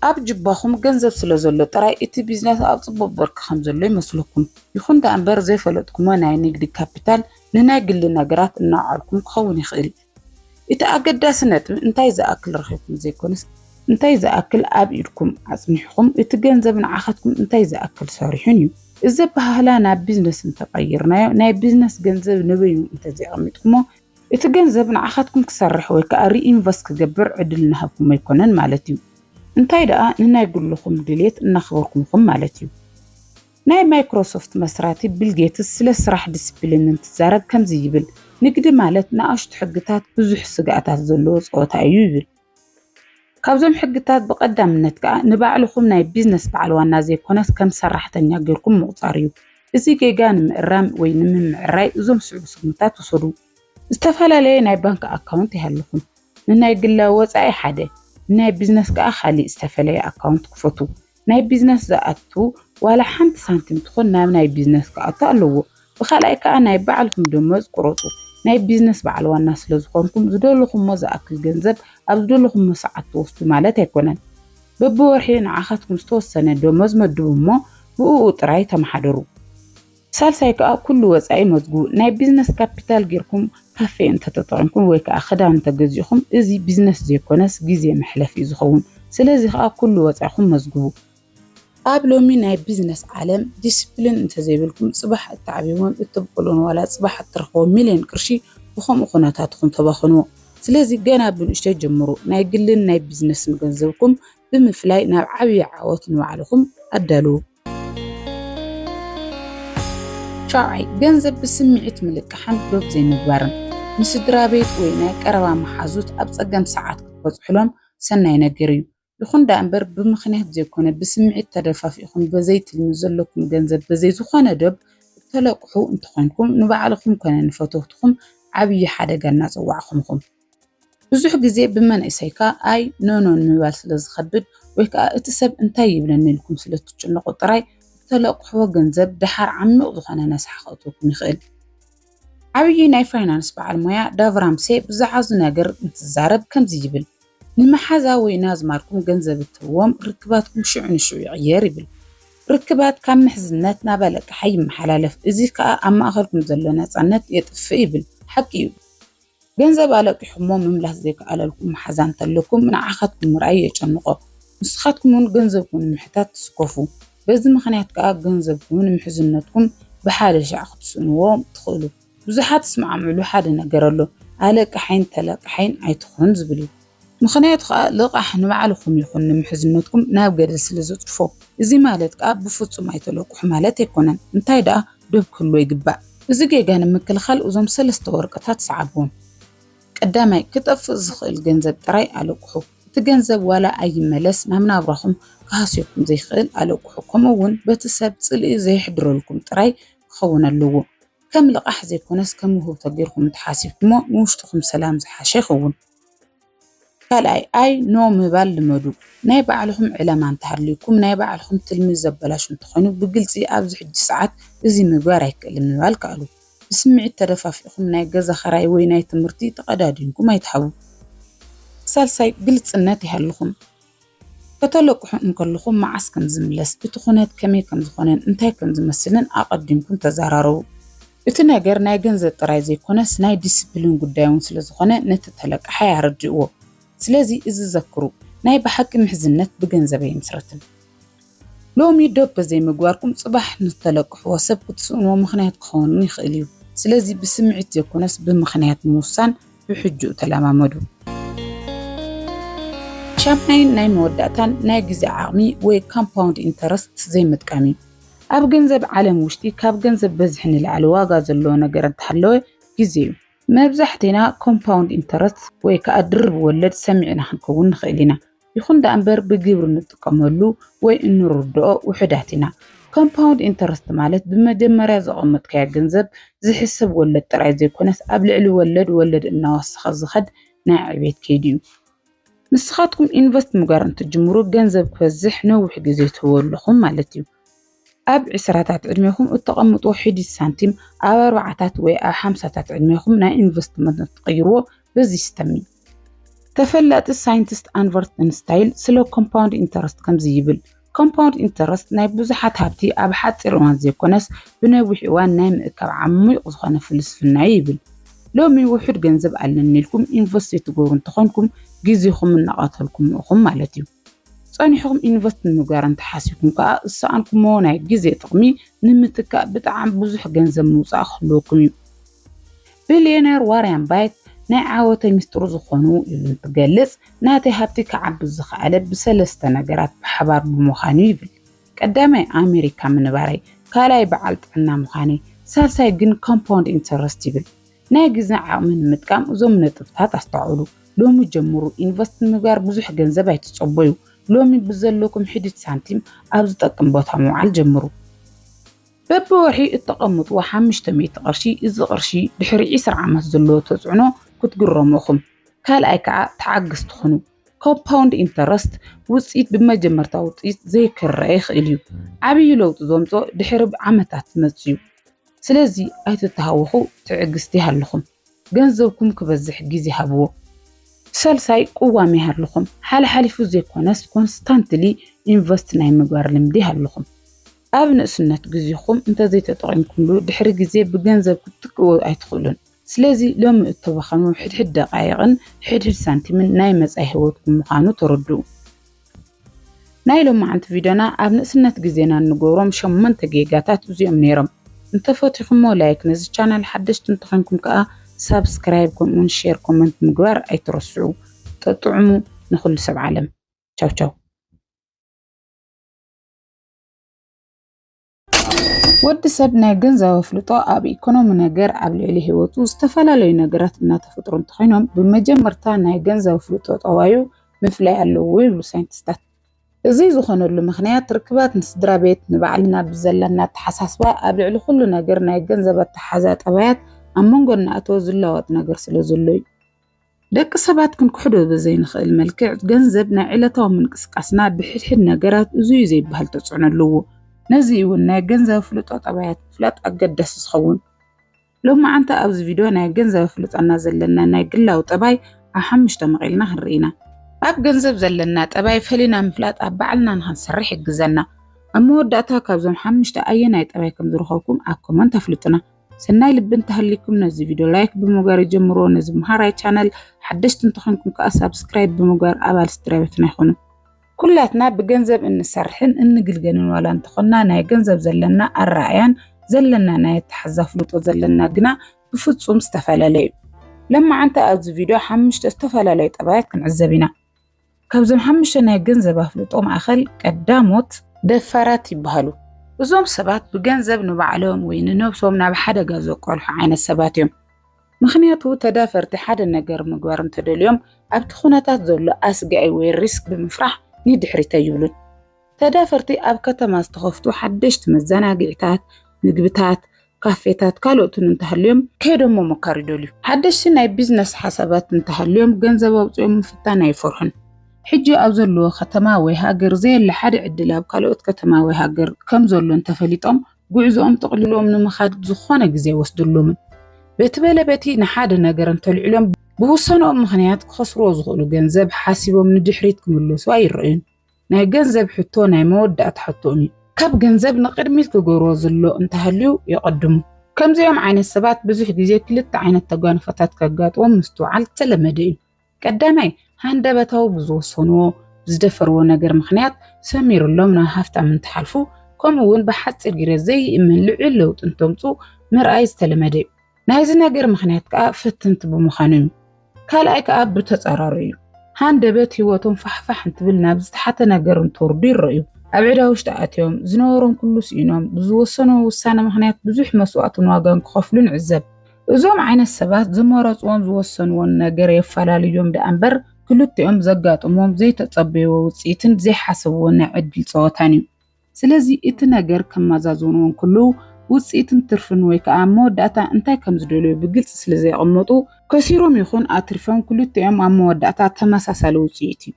[SPEAKER 1] ኣብ ጁባኹም ገንዘብ ስለ ዘሎ ጥራይ እቲ ቢዝነስ ኣብ ጽቡቕ ብርኪ ከም ዘሎ ይመስለኩም። ይኹን ደኣምበር ዘይፈለጥኩሞ ናይ ንግዲ ካፒታል ንናይ ግሊ ነገራት እናውዓልኩም ክኸውን ይኽእል። እቲ ኣገዳሲ ነጥቢ እንታይ ዝኣክል ረኺብኩም ዘይኮነስ እንታይ ዝኣክል ኣብ ኢድኩም ኣጽኒሕኩም እቲ ገንዘብ ንዓኻትኩም እንታይ ዝኣክል ሰሪሑን እዩ። እዚ ኣበሃህላ ናብ ቢዝነስ እንተቐይርናዮ ናይ ቢዝነስ ገንዘብ ንበይኑ እንተዘይቐሚጥኩሞ እቲ ገንዘብ ንዓኻትኩም ክሰርሕ ወይ ከዓ ሪኢንቨስት ክገብር ዕድል እናሃብኩም ኣይኮነን ማለት እዩ። እንታይ ደኣ ንናይ ግልኹም ድሌት እናኽበርኩም ኢኹም ማለት እዩ። ናይ ማይክሮሶፍት መስራቲ ቢል ጌትስ ስለ ስራሕ ዲሲፕሊን እንትዛረብ ከምዚ ይብል፣ ንግዲ ማለት ንኣሽቱ ሕግታት ብዙሕ ስግኣታት ዘለዎ ጸወታ እዩ ይብል። ካብዞም ሕግታት ብቐዳምነት ከኣ ንባዕልኹም ናይ ቢዝነስ በዓል ዋና ዘይኮነስ ከም ሰራሕተኛ ጌርኩም ምቑጻር እዩ። እዚ ጌጋ ንምእራም ወይ ንምምዕራይ እዞም ዝስዕቡ ስጉምታት ውሰዱ። ዝተፈላለየ ናይ ባንክ ኣካውንት ይሃልኹም። ንናይ ግላዊ ወጻኢ ሓደ፣ ንናይ ቢዝነስ ከኣ ካልእ ዝተፈለየ ኣካውንት ክፈቱ። ናይ ቢዝነስ ዝኣቱ ዋላ ሓንቲ ሳንቲም ትኹን ናብ ናይ ቢዝነስ ክኣቱ ኣለዎ። ብካልኣይ ከኣ ናይ ባዕልኹም ደሞዝ ቁረፁ። ናይ ቢዝነስ በዓል ዋና ስለዝኾንኩም ዝደለኹሞ ዝኣክል ገንዘብ ኣብ ዝደለኹሞ ሰዓት ትወስዱ ማለት ኣይኮነን። በቢወርሒ ንዓኻትኩም ዝተወሰነ ደሞዝ መድቡ እሞ ብእኡ ጥራይ ተመሓደሩ። ሳልሳይ ከዓ ኩሉ ወፃኢ መዝግቡ። ናይ ቢዝነስ ካፒታል ጌርኩም ካፌ እንተተጠቒምኩም ወይ ከዓ ክዳን እንተገዚእኹም እዚ ቢዝነስ ዘይኮነስ ግዜ መሕለፊ እዩ ዝኸውን። ስለዚ ከዓ ኩሉ ወፃኢኹም መዝግቡ። ኣብ ሎሚ ናይ ቢዝነስ ዓለም ዲሲፕሊን እንተዘይብልኩም ፅባሕ እትዓብይዎን እተብቑልዎን ዋላ ፅባሕ እትረኽቦ ሚልዮን ቅርሺ ብኸምኡ ኩነታት ኢኹም ተባኽንዎ። ስለዚ ገና ብንእሽተይ ጀምሩ። ናይ ግልን ናይ ቢዝነስን ገንዘብኩም ብምፍላይ ናብ ዓብዪ ዓወት ንባዕልኹም ኣዳልዉ። ሻውዓይ፣ ገንዘብ ብስምዒት ምልቃሕን ዶብ ዘይምግባርን። ንስድራ ቤት ወይ ናይ ቀረባ መሓዙት ኣብ ጸገም ሰዓት ክትበጽሑሎም ሰናይ ነገር እዩ። ይኹን ደኣ እምበር ብምኽንያት ዘይኮነ ብስምዒት ተደፋፊእኹም በዘይ ትልሚ ዘለኩም ገንዘብ በዘይ ዝኾነ ዶብ እተለቅሑ እንተኾይንኩም ንባዕልኹም ኮነ ንፈተውትኹም ዓብዪ ሓደጋ እናጸዋዕኹም ኢኹም። ብዙሕ ግዜ ብመንእሰይካ ኣይ ኖኖ ንምባል ስለዝኸብድ ወይ ከኣ እቲ ሰብ እንታይ ይብለኒ ኢልኩም ስለትጭነቑ ጥራይ ብተለቅሕዎ ገንዘብ ደሓር ዓሚቕ ዝኾነ ነስሓ ከእትወኩም ይኽእል። ዓብዪ ናይ ፋይናንስ በዓል ሞያ ዳቭ ራምሴ ብዛዕባ እዚ ነገር እንትዛረብ ከምዚ ይብል፣ ንመሓዛ ወይ ንኣዝማድኩም ገንዘብ እትህብዎም ርክባትኩም ሽዑ ንሽዑ ይቕየር ይብል። ርክባት ካብ ምሕዝነት ናብ ኣለቃሓይ ይመሓላለፍ፣ እዚ ከኣ ኣብ ማእከልኩም ዘሎ ናጻነት የጥፍእ ይብል። ሓቂ እዩ። ገንዘብ ኣለቂሑሞ ምምላስ ዘይከኣለልኩም መሓዛ እንተለኩም ንዓኻትኩም ምርኣይ የጨንቖ። ንስኻትኩም እውን ገንዘብኩም ንምሕታት ትስከፉ። በዚ ምኽንያት ከኣ ገንዘብኩም ንምሕዝነትኩም ብሓደ ሻዕ ክትስእንዎ ትኽእሉ። ብዙሓት ዝስማዕምዕሉ ሓደ ነገር ኣሎ፣ ኣለቃሓይን ተለቃሓይን ኣይትኹን ዝብል እዩ። ምኽንያቱ ከኣ ልቓሕ ንባዕልኹም ይኹን ንምሕዝነትኩም ናብ ገደል ስለ ዘጽድፎ። እዚ ማለት ከኣ ብፍጹም ኣይተለቁሑ ማለት ኣይኮነን፣ እንታይ ደኣ ዶብ ክህልዎ ይግባእ። እዚ ጌጋ ንምክልኻል እዞም ሰለስተ ወረቀታት ሰዓብዎም። ቀዳማይ፣ ክጠፍእ ዝኽእል ገንዘብ ጥራይ ኣለቁሑ። እቲ ገንዘብ ዋላ ኣይመለስ ናብ ናብራኹም ክሃስየኩም ዘይክእል ኣለቁሑ ከምኡ ውን በቲ ሰብ ጽልኢ ዘየሕድረልኩም ጥራይ ክኸውን ኣለዎ። ከም ልቓሕ ዘይኮነስ ከም ውህብቶ ጌርኩም እንተሓሲብኩሞ ንውሽጥኹም ሰላም ዝሓሸ ይኸውን። ካልኣይ ኣይ ኖ ምባል ልመዱ። ናይ ባዕልኹም ዕላማ እንተሃልዩኩም ናይ ባዕልኹም ትልሚ ዘበላሹ እንተኾይኑ ብግልፂ ኣብዚ ሕጂ ሰዓት እዚ ምግባር ኣይክእልን ምባል ከኣሉ። ብስምዒት ተደፋፊእኹም ናይ ገዛ ኽራይ ወይ ናይ ትምህርቲ ተቐዳዲምኩም ኣይትሃቡ። ሳልሳይ ግልፅነት ይሃልኹም። ከተለቅሑ እንከለኹም መዓስ ከም ዝምለስ፣ እቲ ኩነት ከመይ ከም ዝኾነን እንታይ ከም ዝመስልን ኣቐዲምኩም ተዘራረቡ። እቲ ነገር ናይ ገንዘብ ጥራይ ዘይኮነስ ናይ ዲሲፕሊን ጉዳይ እውን ስለ ዝኾነ ነቲ ተለቃሓይ ኣረድእዎ። ስለዚ እዚ ዘክሩ፣ ናይ ብሓቂ ምሕዝነት ብገንዘብ ኣይምስረትን። ሎሚ ዶብ በዘይምግባርኩም ጽባሕ ንዝተለቅሕዎ ሰብ ክትስእንዎ ምኽንያት ክኸውንን ይኽእል እዩ። ስለዚ ብስምዒት ዘይኮነስ ብምኽንያት ምውሳን ብሕጂኡ ተለማመዱ። ሻምናይን ናይ መወዳእታን ናይ ግዜ ዓቕሚ ወይ ካምፓውንድ ኢንተረስት ዘይምጥቃም እዩ። ኣብ ገንዘብ ዓለም ውሽጢ ካብ ገንዘብ በዝሒ ንላዕሊ ዋጋ ዘለዎ ነገር እንተሃለወ ግዜ እዩ። መብዛሕቴና ኮምፓውንድ ኢንተረስት ወይ ከዓ ድርብ ወለድ ሰሚዕና ክንከውን ንኽእል ኢና። ይኹን ደኣ እምበር ብግብሪ ንጥቀመሉ ወይ እንርድኦ ውሑዳት ኢና። ኮምፓውንድ ኢንተረስት ማለት ብመጀመርያ ዘቐመጥካዮ ገንዘብ ዝሕሰብ ወለድ ጥራይ ዘይኮነስ ኣብ ልዕሊ ወለድ ወለድ እናወሰኸ ዝኸድ ናይ ዕቤት ከይዲ እዩ። ንስኻትኩም ኢንቨስት ምግባር እንትጅምሩ ገንዘብ ክበዝሕ ነዊሕ ግዜ ትህቡ ኣለኹም ማለት እዩ። ኣብ ዕስራታት ዕድሜኹም እተቐምጥዎ ሒዲት ሳንቲም ኣብ ኣርባዓታት ወይ ኣብ ሓምሳታት ዕድሜኹም ናይ ኢንቨስትመንት እትቕይርዎ በዚ ሲስተም እዩ። ተፈላጢ ሳይንቲስት ኣንቨርት እንስታይል ስለ ኮምፓውንድ ኢንተረስት ከምዚ ይብል ኮምፓውንድ ኢንተረስት ናይ ብዙሓት ሃብቲ ኣብ ሓፂር እዋን ዘይኮነስ ብነዊሕ እዋን ናይ ምእካብ ዓሚቕ ዝኾነ ፍልስፍና እዩ ይብል። ሎሚ ውሑድ ገንዘብ ኣለኒ ኢልኩም ኢንቨስት ዘይትገብሩ እንተኾንኩም ግዜኹም እናቐተልኩም ኢኹም ማለት እዩ። ጸኒሕኹም ኢንቨስት ንምግባር እንተሓሲብኩም ከኣ ዝሰኣንኩሞ ናይ ግዜ ጥቕሚ ንምትካእ ብጣዕሚ ብዙሕ ገንዘብ ምውጻእ ክህልወኩም እዩ። ቢልየነር ዋርያን ባይት ናይ ዓወተይ ምስጢሩ ዝኾኑ ኢሉ እንትገልጽ ናተይ ሃብቲ ክዓቢ ዝኸኣለ ብሰለስተ ነገራት ብሓባር ብምዃን እዩ ይብል። ቀዳማይ ኣሜሪካ ምንባረይ፣ ካልኣይ በዓል ጥዕና ምዃነይ፣ ሳልሳይ ግን ኮምፓውንድ ኢንተረስት ይብል። ናይ ግዝን ዓቕሚ ንምጥቃም እዞም ነጥብታት ኣስተውዕሉ። ሎሚ ጀምሩ ኢንቨስት ንምግባር ብዙሕ ገንዘብ ኣይትጸበዩ። ሎሚ ብዘለኩም ሒዲት ሳንቲም ኣብ ዝጠቅም ቦታ ምውዓል ጀምሩ። በብወርሒ እተቐምጥዎ ሓሙሽተ ሚእቲ ቅርሺ፣ እዚ ቅርሺ ድሕሪ ዒስራ ዓመት ዘለዎ ተጽዕኖ ክትግረሙ ኢኹም። ካልኣይ ከዓ ተዓግስ ትኹኑ። ኮምፓውንድ ኢንተረስት ውፅኢት ብመጀመርታ ውፅኢት ዘይክረአ ይኽእል እዩ። ዓብዪ ለውጢ ዘምፅኦ ድሕሪ ዓመታት ዝመፅእ እዩ። ስለዚ ኣይትተሃወኹ ትዕግስቲ ይሃልኹም ገንዘብኩም ክበዝሕ ግዜ ሃብዎ። ሳልሳይ ቅዋም ይሃልኹም ሓልሓሊፉ ዘይኮነስ ኮንስታንትሊ ኢንቨስት ናይ ምግባር ልምዲ ይሃልኹም። ኣብ ንእስነት ግዜኹም እንተዘይተጠቒምኩምሉ ድሕሪ ግዜ ብገንዘብ ክትትክእዎ ኣይትኽእሉን። ስለዚ ሎሚ እተባኸኑ ሕድሕድ ደቓይቕን ሕድሕድ ሳንቲምን ናይ መጻኢ ህይወትኩም ምዃኑ ተረድኡ። ናይ ሎማዓንቲ ቪድዮና ኣብ ንእስነት ግዜና እንገብሮም ሸሞንተ ጌጋታት እዚኦም ነይሮም። እንተፈቲኹሞ ላይክ ነዚ ቻናል ሓደሽቲ እንተኾይንኩም ከኣ ሳብስክራይብ ከምኡውን ሼር ኮመንት ምግባር ኣይትረስዑ። ጠጥዑሙ ንኹሉ ሰብ ዓለም። ቻው ቻው። ወዲ ሰብ ናይ ገንዘብ ኣፍልጦ ኣብ ኢኮኖሚ ነገር ኣብ ልዕሊ ህይወቱ ዝተፈላለዩ ነገራት እናተፈጥሩ እንተኾይኖም ብመጀመርታ ናይ ገንዘብ ኣፍልጦ ጠባዩ ምፍላይ ኣለዎ ይብሉ ሳይንቲስታት። እዚ ዝኾነሉ ምኽንያት ርክባት ንስድራ ቤት ንባዕልና ብዘለና ኣተሓሳስባ ኣብ ልዕሊ ኩሉ ነገር ናይ ገንዘብ ኣተሓዛ ጠባያት ኣብ መንጎ እናእተወ ዝለዋወጥ ነገር ስለ ዘሎ እዩ። ደቂ ሰባት ክንክሕዶ ብዘይንኽእል መልክዕ ገንዘብ ናይ ዕለታዊ ምንቅስቃስና ብሕድሕድ ነገራት እዙዩ ዘይበሃል ተጽዕኖ ኣለዎ። ነዚ እዩ እውን ናይ ገንዘብ ፍልጦ ጠባያት ምፍላጥ ኣገዳሲ ዝኸውን። ሎማዓንቲ ኣብዚ ቪድዮ ናይ ገንዘብ ፍልጦና ዘለና ናይ ግላዊ ጠባይ ኣብ ሓሙሽተ መቒልና ክንርኢ ኢና። ኣብ ገንዘብ ዘለና ጠባይ ፈሊና ምፍላጥ ኣብ ባዕልና ንክንሰርሕ ይሕግዘና። ኣብ መወዳእታ ካብዞም ሓሙሽተ ኣየናይ ጠባይ ከምዝረኸብኩም ኣብ ኮመንት ኣፍልጡና። ሰናይ ልቢ እንተሃሊኩም ነዚ ቪድዮ ላይክ ብምግባር ይጀምርዎ። ነዚ መሃራይ ቻነል ሓደሽቲ እንተኾንኩም ከዓ ሳብስክራይብ ብምግባር ኣባል ስድራ ቤትና ይኹኑ። ኩላትና ብገንዘብ እንሰርሕን እንግልገልን ዋላ እንተኾንና ናይ ገንዘብ ዘለና ኣረኣእያን ዘለና ናይ ኣተሓዛ ፍልጦ ዘለና ግና ብፍፁም ዝተፈላለዩ እዩ። ለማዓንቲ ኣብዚ ቪድዮ ሓምሽተ ዝተፈላለዩ ጠባያት ክንዕዘብ ኢና። ካብዞም ሓሙሽተ ናይ ገንዘብ ኣፍልጦ ማእኸል ቀዳሞት ደፋራት ይበሃሉ። እዞም ሰባት ብገንዘብ ንባዕሎም ወይ ንነብሶም ናብ ሓደጋ ዘቆልሑ ዓይነት ሰባት እዮም። ምኽንያቱ ተዳፈርቲ ሓደ ነገር ምግባር እንተደልዮም ኣብቲ ኩነታት ዘሎ ኣስጋኢ ወይ ሪስክ ብምፍራሕ ንድሕሪት ኣይብሉን። ተዳፈርቲ ኣብ ከተማ ዝተኸፍቱ ሓደሽቲ መዘናግዒታት፣ ምግብታት፣ ካፌታት ካልኦትን እንተሃልዮም ከይዶም ምሞካር ይደልዩ። ሓደሽቲ ናይ ቢዝነስ ሓሳባት እንተሃልዮም ገንዘብ ኣውጺኦም ምፍታን ኣይፈርሑን። ሕጂ ኣብ ዘለዎ ከተማ ወይ ሃገር ዘየለ ሓደ ዕድል ኣብ ካልኦት ከተማ ወይ ሃገር ከም ዘሎ እንተፈሊጦም ጉዕዞኦም ጠቕሊሎም ንምኻድ ዝኾነ ግዜ ኣይወስደሎምን። በቲ በለ በቲ ንሓደ ነገር እንተልዕሎም ብውሳነኦም ምኽንያት ክኸስርዎ ዝኽእሉ ገንዘብ ሓሲቦም ንድሕሪት ክምለሱ ኣይረኣዩን። ናይ ገንዘብ ሕቶ ናይ መወዳእታ ሕቶን እዩ። ካብ ገንዘብ ንቕድሚት ክገብሮ ዝሎ እንተሃልዩ የቐድሙ። ከምዚኦም ዓይነት ሰባት ብዙሕ ግዜ ክልተ ዓይነት ተጓንፎታት ከጋጥዎም ምስትውዓል ዝተለመደ እዩ። ቀዳማይ፣ ሃንደበታዊ ብዝወሰንዎ፣ ብዝደፈርዎ ነገር ምኽንያት ሰሚርሎም ናብ ሃፍታም እንትሓልፉ ከምኡ'ውን ብሓጺር ግረ ዘይእመን ልዑል ለውጢ እንተምጽኡ ምርኣይ ዝተለመደ እዩ። ናይዚ ነገር ምኽንያት ከዓ ፈተንቲ ብምዃኖም እዩ። ካልኣይ ከዓ ብተፃራሩ እዩ። ሃንደበት ህይወቶም ፋሕፋሕ እንትብል ናብ ዝተሓተ ነገር እንትወርዱ ይረእዩ። ኣብ ዕዳ ውሽጢ ኣትዮም፣ ዝነበሮም ኩሉ ስኢኖም፣ ብዝወሰንዎ ውሳነ ምኽንያት ብዙሕ መስዋእትን ዋጋን ክኸፍሉ ንዕዘብ። እዞም ዓይነት ሰባት ዝመረፅዎን ዝወሰንዎን ነገር የፈላልዮም ደኣ እምበር ክልቲኦም ዘጋጥሞም ዘይተፀበይዎ ውፅኢትን ዘይሓሰብዎ ናይ ዕድል ፀወታን እዩ። ስለዚ እቲ ነገር ከማዛዝንዎ እንክልዉ ውጽኢትን ትርፍን ወይ ከኣ ኣብ መወዳእታ እንታይ ከም ዝደልዩ ብግልጺ ስለ ዘየቐመጡ፣ ከሲሮም ይኹን ኣትሪፎም ክልቲኦም ኣብ መወዳእታ ተመሳሳሊ ውጽኢት እዩ።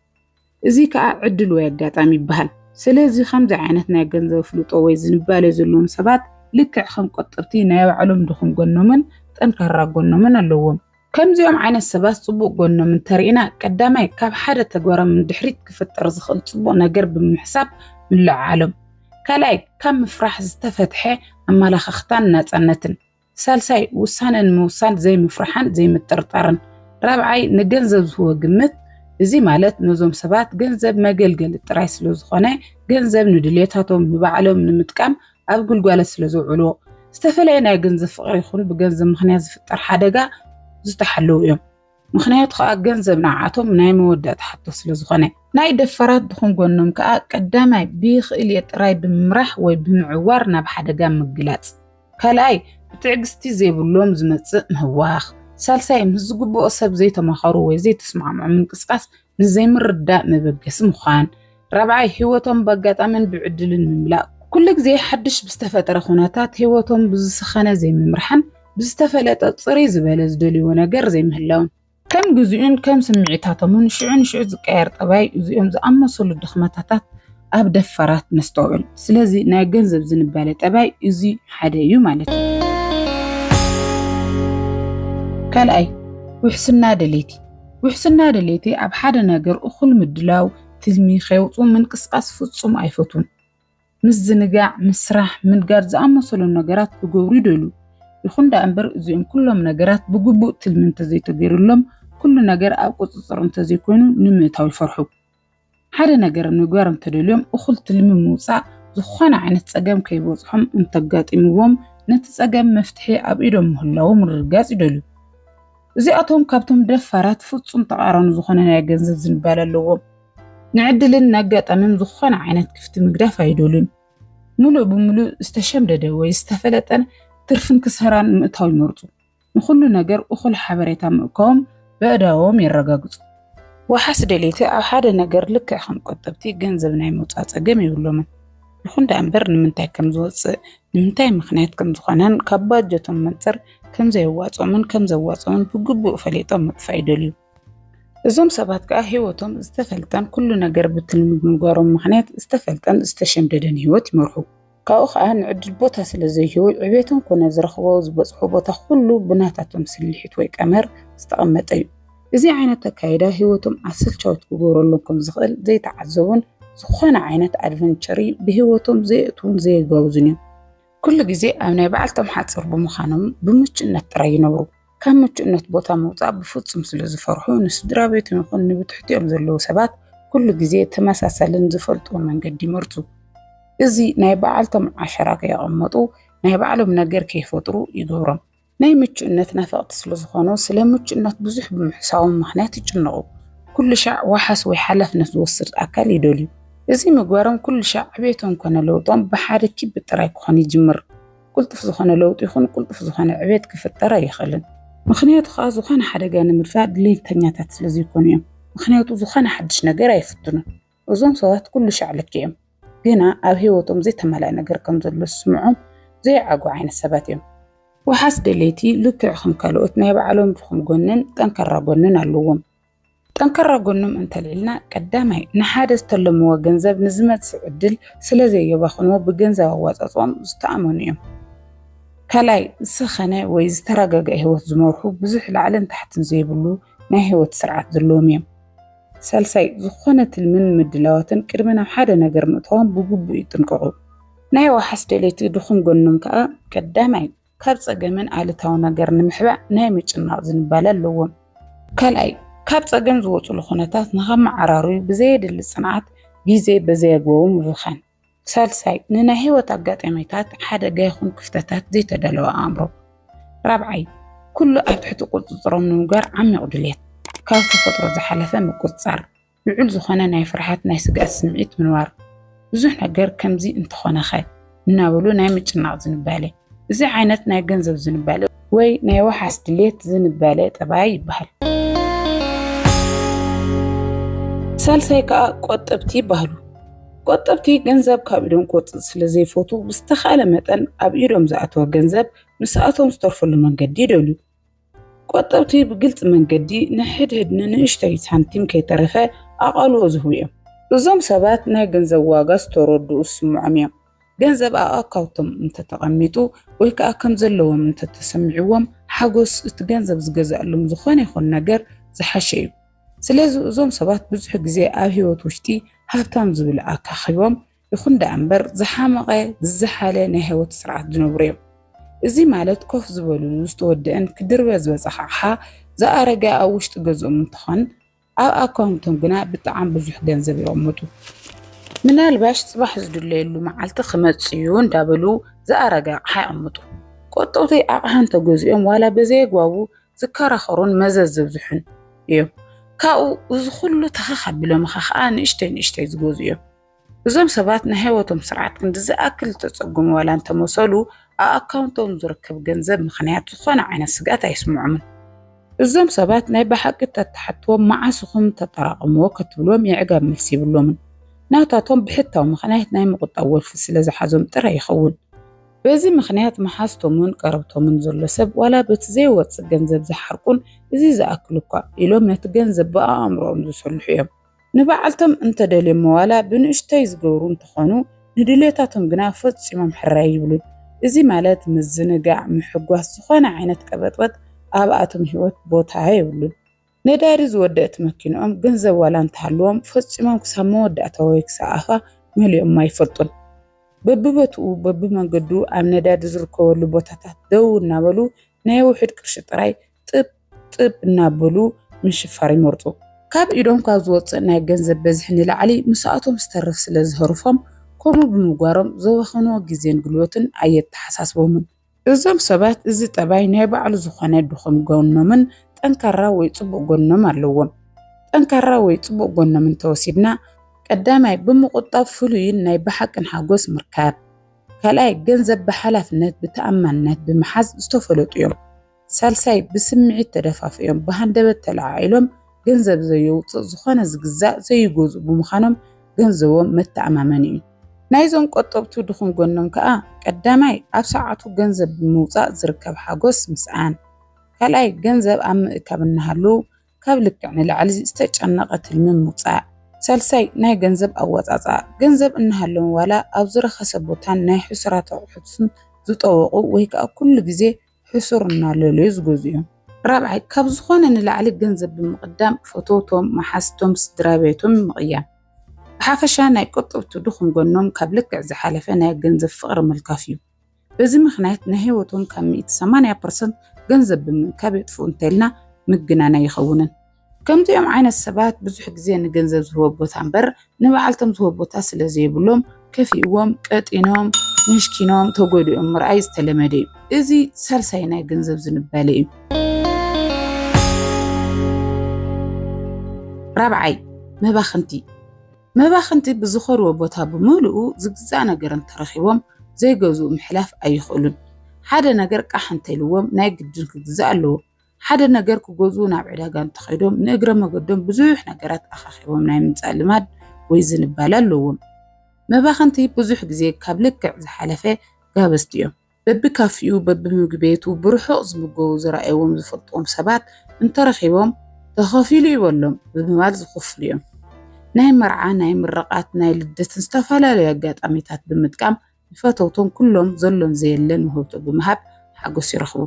[SPEAKER 1] እዚ ከኣ ዕድል ወይ ኣጋጣሚ ይበሃል። ስለዚ ከምዚ ዓይነት ናይ ገንዘብ ኣፍልጦ ወይ ዝንባሌ ዘለዎም ሰባት ልክዕ ከም ቆጠብቲ ናይ ባዕሎም ድኹም ጎኖምን ጠንካራ ጎኖምን ኣለዎም። ከምዚኦም ዓይነት ሰባት ጽቡቕ ጎኖም እንተርኢና፣ ቀዳማይ ካብ ሓደ ተግባሮም ንድሕሪት ክፍጠር ዝኽእል ጽቡቕ ነገር ብምሕሳብ ምልዕዓሎም፣ ካልኣይ ካብ ምፍራሕ ዝተፈትሐ ኣመላኻኽታን ናጻነትን፣ ሳልሳይ ውሳነ ንምውሳን ዘይምፍርሓን ዘይምጥርጣርን፣ ራብዓይ ንገንዘብ ዝህቦ ግምት፣ እዚ ማለት ነዞም ሰባት ገንዘብ መገልገሊ ጥራይ ስለዝኾነ ገንዘብ ንድልየታቶም ንባዕሎም ንምጥቃም ኣብ ግልጓለት ስለ ዝውዕሉ ዝተፈለየ ናይ ገንዘብ ፍቕሪ ይኹን ብገንዘብ ምኽንያት ዝፍጠር ሓደጋ ዝተሓለዉ እዮም። ምኽንያቱ ከኣ ገንዘብ ንዓኣቶም ናይ መወዳእታ ሕቶ ስለ ዝኾነ። ናይ ደፋራት ድኹም ጎኖም ከኣ ቀዳማይ ብይኽእል'የ ጥራይ ብምምራሕ ወይ ብምዕዋር ናብ ሓደጋ ምግላጽ፣ ካልኣይ ብትዕግስቲ ዘይብሎም ዝመጽእ ምህዋኽ፣ ሳልሳይ ምስ ዝግብኦ ሰብ ዘይተማኸሩ ወይ ዘይተስማዕምዑ ምንቅስቓስ ንዘይምርዳእ መበገሲ ምዃን፣ ራብዓይ ህይወቶም በኣጋጣምን ብዕድልን ምምላእ፣ ኩሉ ግዜ ሓድሽ ብዝተፈጠረ ኩነታት ህይወቶም ብዝሰኸነ ዘይምምራሕን ብዝተፈለጠ ጽርይ ዝበለ ዝደልይዎ ነገር ዘይምህላውን። ከም ግዜኡን ከም ስምዒታቶምን ሽዑ ንሽዑ ዝቀያየር ጠባይ እዚኦም ዝኣመሰሉ ድኽመታታት ኣብ ደፋራት ነስተውዕል። ስለዚ ናይ ገንዘብ ዝንባለ ጠባይ እዚ ሓደ እዩ ማለት እዩ። ካልኣይ ውሕስና ደለይቲ ውሕስና ድሌተይ ኣብ ሓደ ነገር እኹል ምድላው፣ ትልሚ ከየውጽኡ ምንቅስቓስ ፍጹም ኣይፈቱን። ምዝንጋዕ፣ ምስራሕ፣ ምንጋድ ዝኣመሰሉ ነገራት ክገብሩ ይደልዩ። ይኹን ደኣ እምበር እዚኦም ኩሎም ነገራት ብግቡእ ትልሚ እንተዘይተገይሩሎም፣ ኩሉ ነገር ኣብ ቁጽጽር እንተዘይኮይኑ ንምእታው ይፈርሑ። ሓደ ነገር ምግባር እንተደልዮም እኹል ትልሚ ምውፃእ ዝኾነ ዓይነት ፀገም ከይበፅሖም እንተጋጢምዎም ነቲ ፀገም መፍትሒ ኣብ ኢዶም ምህላዉ ምርግጋፅ ይደልዩ። እዚኣቶም ካብቶም ደፋራት ፍፁም ተቃራኒ ዝኾነ ናይ ገንዘብ ዝንባለ ኣለዎም። ንዕድልን ንኣጋጣምን ዝኾነ ዓይነት ክፍቲ ምግዳፍ ኣይደልዩን። ምሉእ ብምሉእ ዝተሸምደደ ወይ ዝተፈለጠን ትርፍን ክሰራን ምእታው ይመርፁ። ንኹሉ ነገር እኹል ሓበሬታ ምእካቦም በእዳዎም የረጋግጹ። ዋሓስ ደለይቲ ኣብ ሓደ ነገር ልክዕ ከም ቆጠብቲ ገንዘብ ናይ ምውጻእ ጸገም የብሎምን። ይኹን ደኣ እምበር ንምንታይ ከም ዝወጽእ፣ ንምንታይ ምኽንያት ከም ዝኾነን ካብ ባጀቶም መንጽር ከም ዘየዋጽኦምን ከም ዘዋጽኦምን ብግቡእ ፈሊጦም ምጥፋእ ይደልዩ። እዞም ሰባት ከኣ ህይወቶም ዝተፈልጠን ኩሉ ነገር ብትልሚ ብምግባሮም ምኽንያት ዝተፈልጠን ዝተሸምደደን ህይወት ይመርሑ። ካብኡ ከዓ ንዕድል ቦታ ስለ ዘይህቡ ዕቤቶም ኮነ ዝረኽቦ ዝበፅሑ ቦታ ኩሉ ብናታቶም ስልሒት ወይ ቀመር ዝተቐመጠ እዩ። እዚ ዓይነት ኣካይዳ ህይወቶም ኣሰልቻዊት ክገብረሎም ከም ዝኽእል ዘይተዓዘቡን ዝኾነ ዓይነት ኣድቨንቸሪ ብህይወቶም ዘየእትዉን ዘየጋውዙን እዮም። ኩሉ ግዜ ኣብ ናይ ባዕልቶም ሓፅር ብምዃኖም ብምቹእነት ጥራይ ይነብሩ። ካብ ምቹእነት ቦታ ምውፃእ ብፍፁም ስለ ዝፈርሑ ንስድራ ቤቶም ይኹን ንብትሕቲኦም ዘለዉ ሰባት ኩሉ ግዜ ተመሳሳልን ዝፈልጥዎ መንገዲ ይመርፁ። እዚ ናይ በዓልቶም ዓሸራ ከየቐመጡ ናይ ባዕሎም ነገር ከይፈጥሩ ይገብሮም። ናይ ምቹእነት ናፈቕቲ ስለ ዝኾኑ ስለ ምቹእነት ብዙሕ ብምሕሳቦም ምኽንያት ይጭነቑ። ኩሉ ሻዕ ዋሓስ ወይ ሓላፍነት ዝወስድ ኣካል ይደልዩ። እዚ ምግባሮም ኩሉ ሻዕ ዕቤቶም ኮነ ለውጦም ብሓደ ኪቢ ጥራይ ክኾን ይጅምር። ቁልጡፍ ዝኾነ ለውጢ ይኹን ቁልጡፍ ዝኾነ ዕቤት ክፍጠር ኣይኽእልን። ምኽንያቱ ከኣ ዝኾነ ሓደጋ ንምድፋእ ድሌተኛታት ስለ ዘይኮኑ እዮም። ምኽንያቱ ዝኾነ ሓድሽ ነገር ኣይፍትኑን። እዞም ሰባት ኩሉ ሻዕ ልክዕ እዮም። ግና ኣብ ህይወቶም ዘይተማልኣ ነገር ከም ዘሎ ዝስምዖም ዘይዓግቡ ዓይነት ሰባት እዮም። ዋሕስ ደለይቲ ልክዕ ከም ካልኦት ናይ ባዕሎም ድኹም ጎንን ጠንካራ ጎንን ኣለዎም። ጠንካራ ጎኖም እንተልዒልና ቀዳማይ ንሓደ ዝተለምዎ ገንዘብ ንዝመጽእ ዕድል ስለ ዘየባኽንዎ ብገንዘብ ኣዋጻጽኦም ዝተኣመኑ እዮም። ካልኣይ ዝሰኸነ ወይ ዝተረጋግዐ ህይወት ዝመርሑ ብዙሕ ላዕልን ታሕትን ዘይብሉ ናይ ህይወት ስርዓት ዘለዎም እዮም። ሳልሳይ ዝኾነ ትልምን ምድላዋትን ቅድሚ ናብ ሓደ ነገር ምእታዎም ብግቡእ ይጥንቀቑ። ናይ ዋሕስ ደለይቲ ድኹም ጎኖም ከኣ ቀዳማይ ካብ ጸገምን ኣሉታዊ ነገር ንምሕባእ ናይ ምጭናቕ ዝንባለ ኣለዎም። ካልኣይ፣ ካብ ጸገም ዝወጹሉ ኩነታት ንኸመዓራርዩ ብዘየድሊ ጽንዓት ግዜ በዘይኣግባቡ ምብኻን። ሳልሳይ፣ ንናይ ህይወት ኣጋጣሚታት፣ ሓደጋ ይኹን ክፍተታት ዘይተዳለወ ኣእምሮ። ራብዓይ፣ ኩሉ ኣብ ትሕቲ ቁጽጽሮም ንምግባር ዓሚቕ ድሌት፣ ካብ ተፈጥሮ ዝሓለፈ ምቁጽጻር። ልዑል ዝኾነ ናይ ፍርሓት ናይ ስግኣት ስምዒት ምንባሩ፣ ብዙሕ ነገር ከምዚ እንተኾነኸ እናበሉ ናይ ምጭናቕ ዝንባለ፣ እዚ ዓይነት ናይ ገንዘብ ዝንባለ ወይ ናይ ዋሕስ ድሌት ዝንባለ ጠባይ ይበሃል። ሳልሳይ ከኣ ቆጠብቲ ይበሃሉ። ቆጠብቲ ገንዘብ ካብ ኢዶም ክወጽእ ስለ ዘይፈቱ ብዝተኻእለ መጠን ኣብ ኢዶም ዝኣተወ ገንዘብ ምስኣቶም ዝተርፈሉ መንገዲ ይደልዩ። ቆጠብቲ ብግልፂ መንገዲ ንሕድሕድ ንንእሽተይ ሳንቲም ከይተረፈ ኣቓልቦ ዝህቡ እዮም። እዞም ሰባት ናይ ገንዘብ ዋጋ ዝተረድኡ ዝስምዖም እዮም። ገንዘብ ኣብ ኣካውቶም እንተተቐሚጡ ወይ ከዓ ከም ዘለዎም እንተተሰሚዕዎም ሓጎስ እቲ ገንዘብ ዝገዝኣሎም ዝኾነ ይኹን ነገር ዝሓሸ እዩ። ስለዚ እዞም ሰባት ብዙሕ ግዜ ኣብ ህይወት ውሽጢ ሃብታም ዝብል ኣካኪቦም ይኹን ደኣ እምበር ዝሓመቐ ዝዘሓለ ናይ ህይወት ስርዓት ዝነብሩ እዮም። እዚ ማለት ኮፍ ዝበልሉ ዝተወደኣን ክድርበ ዝበፀሐ ኣቕሓ ዝኣረገ ኣብ ውሽጢ ገዝኦም እንትኾን ኣብ ኣካውንቶም ግና ብጣዕሚ ብዙሕ ገንዘብ የቐምጡ። ምናልባሽ ፅባሕ ዝድለየሉ መዓልቲ ክመፅእ እዩ እንዳበሉ ዝኣረገ ኣቕሓ የቐምጡ። ቆጠውቲ ኣቕሓ እንተገዚኦም ዋላ በዘየግባቡ ዝከራኸሩን መዘዝ ዘብዝሑን እዮም። ካብኡ እዚ ኩሉ ተኸኽ ኣቢሎምኻ ከዓ ንእሽተይ ንእሽተይ ዝገዝኡ እዮም። እዞም ሰባት ናይ ህይወቶም ስርዓት ክንዲ ዝኣክል ዝተጸገሙ ዋላ እንተመሰሉ፣ ኣብ ኣካውንቶም ዝርከብ ገንዘብ ምኽንያት ዝኾነ ዓይነት ስግኣት ኣይስምዖምን። እዞም ሰባት ናይ ብሓቂ እንተትሓትዎም መዓስ ኢኹም እተጠራቐምዎ ከትብሎም የዕጋብ መልሲ የብሎምን። ናታቶም ብሕታዊ ምኽንያት ናይ ምቑጣብ ወልፊ ስለ ዝሓዞም ጥራይ ይኸውን። በዚ ምኽንያት መሓዝቶምን ቀረብቶምን ዘሎ ሰብ ዋላ በቲ ዘይወጽእ ገንዘብ ዝሓርቁን እዚ ዝኣክል እኳ ኢሎም ነቲ ገንዘብ ብኣእምሮኦም ዝሰልሑ እዮም። ንባዕልቶም እንተደልዮሞ ዋላ ብንእሽቶይ ዝገብሩ እንተኾኑ ንድልየታቶም ግና ፈፂሞም ሕራይ ኣይብሉን። እዚ ማለት ምዝንጋዕ፣ ምሕጓስ፣ ዝኾነ ዓይነት ቀበጥበጥ ኣብኣቶም ህይወት ቦታ የብሉን። ነዳዲ ዝወደእት መኪንኦም ገንዘብ ዋላ እንተሃልዎም ፈፂሞም ክሳብ መወዳእታ ወይ ክሳብ ኣፋ መሊኦማ ኣይፈልጡን። በቢቦትኡ በቢመንገዱ ኣብ ነዳዲ ዝርከበሉ ቦታታት ደው እናበሉ ናይ ውሑድ ቅርሺ ጥራይ ጥብ ጥብ እናበሉ ምሽፋር ይመርጹ። ካብ ኢዶም ካብ ዝወጽእ ናይ ገንዘብ በዝሒ ንላዕሊ ምስኣቶም ዝተርፍ ስለ ዝሀርፎም፣ ከምኡ ብምግባሮም ዘባኸንዎ ግዜን ጉልበትን ኣየተሓሳስቦምን። እዞም ሰባት እዚ ጠባይ ናይ ባዕሉ ዝኾነ ድኹም ጎኖምን ጠንካራ ወይ ጽቡቕ ጎኖም ኣለዎም። ጠንካራ ወይ ጽቡቕ ጎኖም እንተወሲድና፣ ቀዳማይ ብምቑጣብ ፍሉይን ናይ ብሓቅን ሓጎስ ምርካብ። ካልኣይ ገንዘብ ብሓላፍነት ብተኣማንነት ብምሓዝ ዝተፈለጡ እዮም። ሳልሳይ ብስምዒት ተደፋፊኦም ብሃንደበት ተለዓዒሎም ገንዘብ ዘየውፅእ ዝኾነ ዝግዛእ ዘይገዝኡ ብምዃኖም ገንዘቦም መተኣማመኒ እዩ። ናይዞም ቆጠብቱ ድኹም ጎኖም ከዓ ቀዳማይ ኣብ ሰዓቱ ገንዘብ ብምውፃእ ዝርከብ ሓጎስ ምስኣን፣ ካልኣይ ገንዘብ ኣብ ምእካብ እናሃለዉ ካብ ልክዕ ንላዕሊ ዝተጨነቐ ትልሚ ምውፃእ፣ ሳልሳይ ናይ ገንዘብ ኣወፃፅኣ፣ ገንዘብ እናሃለዎም ዋላ ኣብ ዝረኸሰ ቦታን ናይ ሕሱራት ኣቑሑትን ዝጠወቑ ወይ ከዓ ኩሉ ግዜ ሕሱር እናለለዩ ዝገዝኡዮም። ራብዓይ፣ ካብ ዝኾነ ንላዕሊ ገንዘብ ብምቕዳም ፈተውቶም፣ መሓዝቶም፣ ስድራቤቶም ምቕያም። ብሓፈሻ ናይ ቆጠብቱ ድኹም ጎኖም ካብ ልክዕ ዝሓለፈ ናይ ገንዘብ ፍቕሪ ምልካፍ እዩ። በዚ ምኽንያት ናይ ህይወቶም ካብ ሚእቲ ሰማንያ ፐርሰንት ገንዘብ ብምእካብ የጥፍኡ እንተይልና ምግናን ኣይኸውንን። ከምዚኦም ዓይነት ሰባት ብዙሕ ግዜ ንገንዘብ ዝህቦ ቦታ እምበር ንባዕልቶም ዝህቦ ቦታ ስለ ዘይብሎም ከፊእዎም፣ ቀጢኖም፣ ምሽኪኖም፣ ተጎዲኦም ምርኣይ ዝተለመደ እዩ። እዚ ሳልሳይ ናይ ገንዘብ ዝንባለ እዩ። ራብዓይ መባኽንቲ መባኽንቲ ብዝኸድዎ ቦታ ብምልኡ ዝግዛእ ነገር እንተረኺቦም ዘይገዝኡ ምሕላፍ ኣይኽእሉን። ሓደ ነገር ቃሕ እንተኢልዎም ናይ ግድን ክግዛእ ኣለዎ። ሓደ ነገር ክገዝኡ ናብ ዕዳጋ እንተኸይዶም ንእግረ መገዶም ብዙሕ ነገራት ኣኻኺቦም ናይ ምምፃእ ልማድ ወይ ዝንባለ ኣለዎም። መባኸንቲ ብዙሕ ግዜ ካብ ልክዕ ዝሓለፈ ጋበዝቲ እዮም። በቢካፊኡ በቢምግቢ ቤቱ ብርሑቕ ዝምገቡ ዝረኣይዎም ዝፈልጥዎም ሰባት እንተረኺቦም ተኸፊሉ እዩ በሎም ብምባል ዝኽፍሉ እዮም። ናይ መርዓ፣ ናይ ምርቓት፣ ናይ ልደትን ዝተፈላለዩ ኣጋጣሚታት ብምጥቃም ንፈተውቶም ኩሎም ዘሎን ዘየለን ውህብቶ ብምሃብ ሓጎስ ይረኽቡ።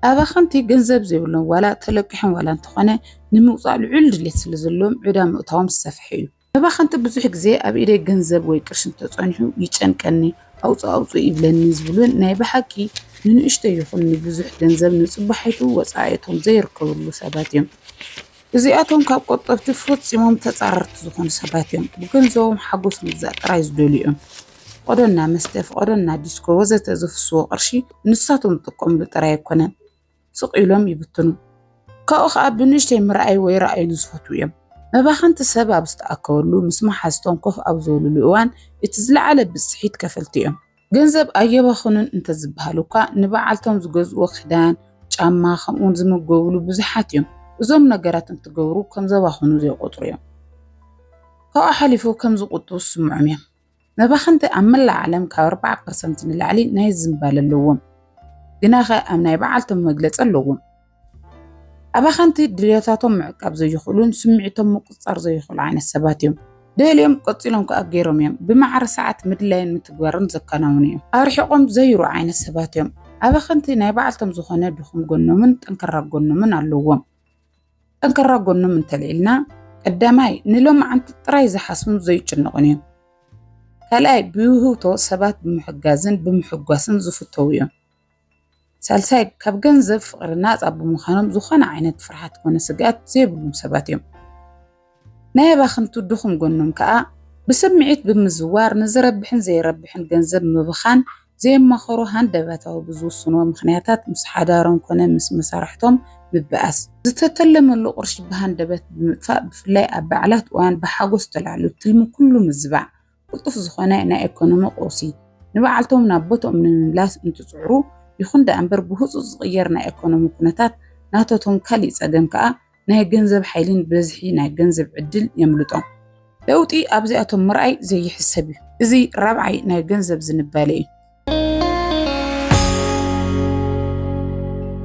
[SPEAKER 1] ኣባኸንቲ ገንዘብ ዘይብሎም ዋላ ተለቂሖም ዋላ እንተኾነ ንምውጻእ ልዑል ድሌት ስለዘለዎም ዕዳ ምእታዎም ዝሰፈሐ እዩ። መባኸንቲ ብዙሕ ግዜ ኣብ ኢደይ ገንዘብ ወይ ቅርሺ እንተጸኒሑ ይጨንቀኒ፣ ኣውጽእ ኣውጽእ ይብለኒ ዝብሉን ናይ ብሓቂ ንንእሽቶ ይኹን ንብዙሕ ገንዘብ ንጽባሒቱ ወጻኢ'ቶም ዘይርከብሉ ሰባት እዮም። እዚኣቶም ካብ ቆጠብቲ ፈጺሞም ተጻረርቲ ዝኾኑ ሰባት እዮም። ብገንዘቦም ሓጎስ ምግዛእ ጥራይ ዝደልዩ እዮም። ፍቐዶና መስተ፣ ፍቐዶና ዲስኮ ወዘተ ዘፍስዎ ቅርሺ ንሳቶም ዝጥቀምሉ ጥራይ ኣይኮነን። ስቕ ኢሎም ይብትኑ። ካብኡ ከኣ ብንእሽተይ ምርኣይ ወይ ራኣይሉ ዝፈትዉ እዮም። መባኸንቲ ሰብ ኣብ ዝተኣከበሉ ምስ መሓዝቶም ኮፍ ኣብ ዝበልሉ እዋን እቲ ዝለዓለ ብጽሒት ከፈልቲ እዮም። ገንዘብ ኣየባኽኑን እንተዝበሃል እኳ ንበዓልቶም ዝገዝእዎ ክዳን፣ ጫማ ከምኡውን ዝምገብሉ ብዙሓት እዮም። እዞም ነገራት እንትገብሩ ከም ዘባኽኑ ዘይቆጽሩ እዮም። ካብኡ ሓሊፉ ከም ዝቁጥቡ ዝስምዖም እዮም። መባኽንቲ ኣብ መላእ ዓለም ካብ ኣርባዓ ፐርሰንት ንላዕሊ ናይ ዝምባለ ኣለዎም። ግናኸ ኣብ ናይ በዓልቶም መግለጺ ኣለዎም። ኣባኸንቲ ድልየታቶም ምዕቃብ ዘይኽእሉን ስምዒቶም ምቁፅፃር ዘይኽእሉ ዓይነት ሰባት እዮም። ደልዮም ቀፂሎም ከዓ ገይሮም እዮም። ብማዕረ ሰዓት ምድላይን ምትግባርን ዘከናውኑ እዮም። ኣርሒቆም ዘይሩ ዓይነት ሰባት እዮም። ኣባኸንቲ ናይ ባዕልቶም ዝኾነ ድኹም ጎኖምን ጠንከራ ጎኖምን ኣለዎም። ጠንከራ ጎኖም እንተልዒልና ቀዳማይ ንሎማዓንቲ ጥራይ ዝሓስቡን ዘይጭነቑን እዮም። ካልኣይ ብውህብቶ ሰባት ብምሕጋዝን ብምሕጓስን ዝፍተዉ እዮም። ሳልሳይ ካብ ገንዘብ ፍቕሪ ናፃ ብምዃኖም ዝኾነ ዓይነት ፍርሓት ኮነ ስግኣት ዘይብሉም ሰባት እዮም። ናይ ኣባኽንቱ ድኹም ጎኖም ከዓ ብስምዒት ብምዝዋር ንዝረብሕን ዘይረብሕን ገንዘብ ምብኻን ዘየማኸሩ ሃንደበታዊ ብዝውስንዎ ምኽንያታት ምስ ሓዳሮም ኮነ ምስ መሳርሕቶም ምብኣስ ዝተተለመሉ ቅርሺ ብሃንደበት ብምጥፋእ ብፍላይ ኣብ በዓላት እዋን ብሓጎስ ተላዕሉ ትልሚ ኩሉ ምዝባዕ ቅልጡፍ ዝኾነ ናይ ኤኮኖሚ ቀውሲ ንበዓልቶም ናብ ቦትኦም ንምምላስ እንትጽዕሩ፣ ይኹን ደኣ እምበር ብህጹጽ ዝቕየር ናይ ኤኮኖሚ ኩነታት ናተቶም ካሊእ ጸገም ከኣ ናይ ገንዘብ ሓይሊን ብዝሒ ናይ ገንዘብ ዕድል የምልጦም። ለውጢ ኣብዚኣቶም ምርኣይ ዘይሕሰብ እዩ። እዚ ራብዓይ ናይ ገንዘብ ዝንባሌ እዩ።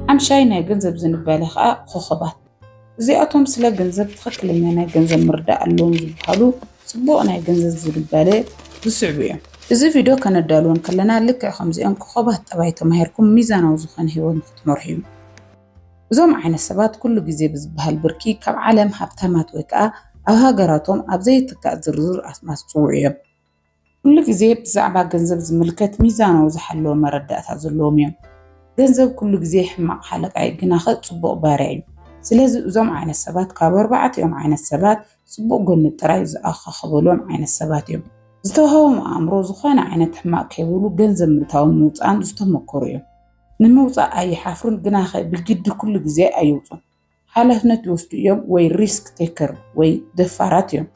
[SPEAKER 1] ሓምሻይ ናይ ገንዘብ ዝንባሌ ከዓ ኾኾባት እዚኣቶም ስለ ገንዘብ ትኽክለኛ ናይ ገንዘብ ምርዳእ ኣለዎም ዝበሃሉ ፅቡቕ ናይ ገንዘብ ዝንባሌ ዝስዕቡ እዮም። እዚ ቪድዮ ከነዳልዎ እንከለና ልክዕ ከምዚኦም ኮኾባት ጠባይ ተማሂርኩም ሚዛናዊ ዝኾነ ህይወት ንኽትመርሑ እዩ። እዞም ዓይነት ሰባት ኩሉ ግዜ ብዝበሃል ብርኪ ካብ ዓለም ሃብታማት ወይ ከዓ ኣብ ሃገራቶም ኣብ ዘይትካእ ዝርዝር ኣስማት ዝፅውዑ እዮም። ኩሉ ግዜ ብዛዕባ ገንዘብ ዝምልከት ሚዛናዊ ዝሓለወ መረዳእታ ዘለዎም እዮም። ገንዘብ ኩሉ ግዜ ሕማቕ ሓለቃ እዩ ግናኸ ጽቡቕ ባርያ እዩ። ስለዚ እዞም ዓይነት ሰባት ካብ ኣርባዕቲኦም ዓይነት ሰባት ጽቡቕ ጎኒ ጥራይ ዝኣኻኽበሎም ዓይነት ሰባት እዮም። ዝተዋህቦም ኣእምሮ ዝኾነ ዓይነት ሕማቕ ከይብሉ ገንዘብ ምእታውን ምውጻእን ዝተመኮሩ እዮም። ንምውጻእ ኣይሓፍሩን ግናኸ ብግዲ ኩሉ ግዜ ኣይውጹን። ሓላፍነት ልወስዱ እዮም ወይ ሪስክ ቴከር ወይ ደፋራት እዮም።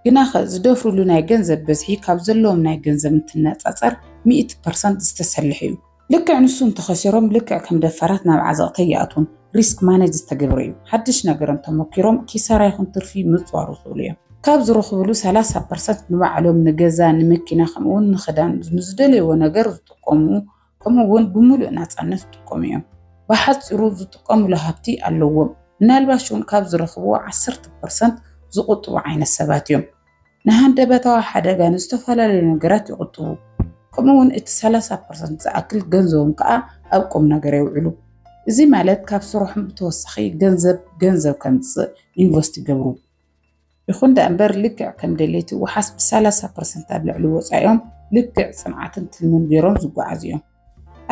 [SPEAKER 1] ግናኸ ዝደፍሩሉ ናይ ገንዘብ በዝሒ ካብ ዘለዎም ናይ ገንዘብ እንትነፃፀር ሚእቲ ፐርሰንት ዝተሰለሐ እዩ። ልክዕ ንሱ እንተኸሲሮም ልክዕ ከም ደፋራት ናብ ዓዘቕቲ ኣይኣትዉን። ሪስክ ማኔጅ ዝተገብረ እዩ። ሓድሽ ነገር እንተሞኪሮም ኪሳራ ይኹን ትርፊ ምፅዋር ይኽእሉ እዮም። ካብ ዝረኽብሉ ሰላሳ ፐርሰንት ንባዕሎም ንገዛ፣ ንመኪና ከምኡ እውን ንኽዳን ንዝደለይዎ ነገር ዝጥቀሙ ከምኡ እውን ብምሉእ ናፃነት ዝጥቀሙ እዮም። ብሓፂሩ ዝጥቀሙሉ ሃብቲ ኣለዎም። ምናልባሽ እውን ካብ ዝረኽብዎ ዓሰርተ ፐርሰንት ዝቑጥቡ ዓይነት ሰባት እዮም። ንሃንደበታዊ ሓደጋ ንዝተፈላለዩ ነገራት ይቑጥቡ። ከምኡ እውን እቲ ሰላሳ ፐርሰንት ዝኣክል ገንዘቦም ከዓ ኣብ ቁም ነገር የውዕሉ። እዚ ማለት ካብ ስርሖም ብተወሳኺ ገንዘብ ገንዘብ ከምፅእ ኢንቨስት ይገብሩ። ይኹን ደኣ እምበር ልክዕ ከም ደለይቲ ወሓስ ብሳላሳ ፐርሰንት ኣብ ልዕሊ ወፃኢኦም ልክዕ ፅንዓትን ትልምን ገይሮም ዝጓዓዙ እዮም።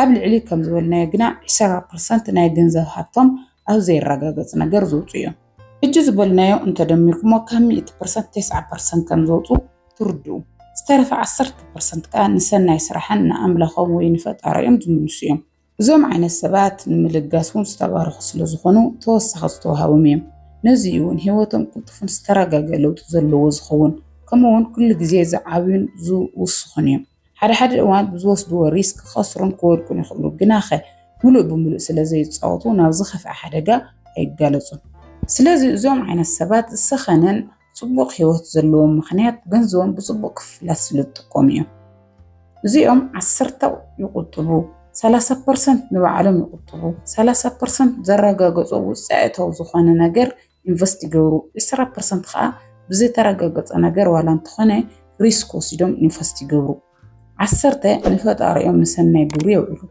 [SPEAKER 1] ኣብ ልዕሊ ከም ዝበልናዮ ግና ዕሰራ ፐርሰንት ናይ ገንዘብ ሃብቶም ኣብ ዘይረጋገፅ ነገር ዘውፅኡ እዮም። ሕጂ ዝበልናዮ እንተደሚርኩሞ ካብ ሚእቲ ፐርሰንት ቴስዓ ፐርሰንት ከም ዘውፅኡ ትርድኡ። ዝተረፈ ዓሰርተ ፐርሰንት ከዓ ንሰናይ ስራሕን ንኣምላኾም ወይ ንፈጣሪኦም ዝምልሱ እዮም። እዞም ዓይነት ሰባት ንምልጋስ እውን ዝተባረኹ ስለ ዝኾኑ ተወሳኺ ዝተዋሃቦም እዮም። ነዚ እውን ህይወቶም ቅልጡፍን ዝተረጋገ ለውጢ ዘለዎ ዝኸውን ከምኡ እውን ኩሉ ግዜ ዝዓብዩን ዝውስኹን እዮም። ሓደ ሓደ እዋን ብዝወስድዎ ሪስክ ክኸስሩን ክወድቁን ይኽእሉ፣ ግናኸ ምሉእ ብምሉእ ስለ ዘይፃወቱ ናብ ዝኸፍኣ ሓደጋ ኣይጋለፁን። ስለዚ እዞም ዓይነት ሰባት ዝሰኸነን ጽቡቕ ህይወት ዘለዎም ምኽንያት ገንዘቦም ብጽቡቕ ክፍላት ስለ ዝጥቀሙ እዮም። እዚኦም ዓሰርተ ይቁጥቡ፣ ሰላሳ ፐርሰንት ንባዕሎም ይቁጥቡ፣ ሰላሳ ፐርሰንት ዘረጋገጾ ውጽኢታዊ ዝኾነ ነገር ኢንቨስት ይገብሩ፣ ዕስራ ፐርሰንት ከዓ ብዘይተረጋገጸ ነገር ዋላ እንተኾነ ሪስክ ወሲዶም ኢንቨስት ይገብሩ፣ ዓሰርተ ንፈጣሪኦም ንሰናይ ግብሪ የውዕሉ።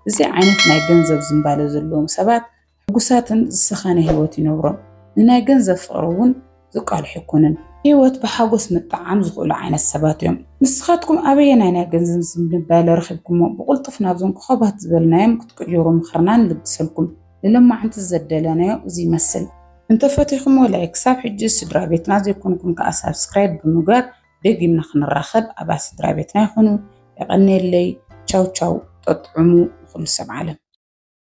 [SPEAKER 1] እዚ ዓይነት ናይ ገንዘብ ዝምባለ ዘለዎም ሰባት ሕጉሳትን ዝሰኸነ ህይወት ይነብሮም። ንናይ ገንዘብ ፍቕሪ እውን ዝቃልሑ ኣይኮኑን። ህይወት ብሓጎስ ምጥዓም ዝኽእሉ ዓይነት ሰባት እዮም። ንስኻትኩም ኣበየናይ ናይ ገንዘብ ዝንባለ ረኺብኩሞ? ብቕልጡፍ ናብዞም ኮኾባት ዝበልናዮም ክትቅይሩ ምኽርና ንልግሰልኩም። ንሎማዕንቲ ዘደለናዮ እዚ ይመስል። እንተፈቲኹሞ ላይክ፣ ክሳብ ሕጂ ስድራቤትና ዘይኮንኩም ከኣ ሳብስክራይብ ብምግባር ደጊምና ክንራኸብ ኣባል ስድራቤትና ይኹኑ። የቐንየለይ። ቻው ቻው። ጠጥዑሙ ንኹሉ ሰብ ዓለም።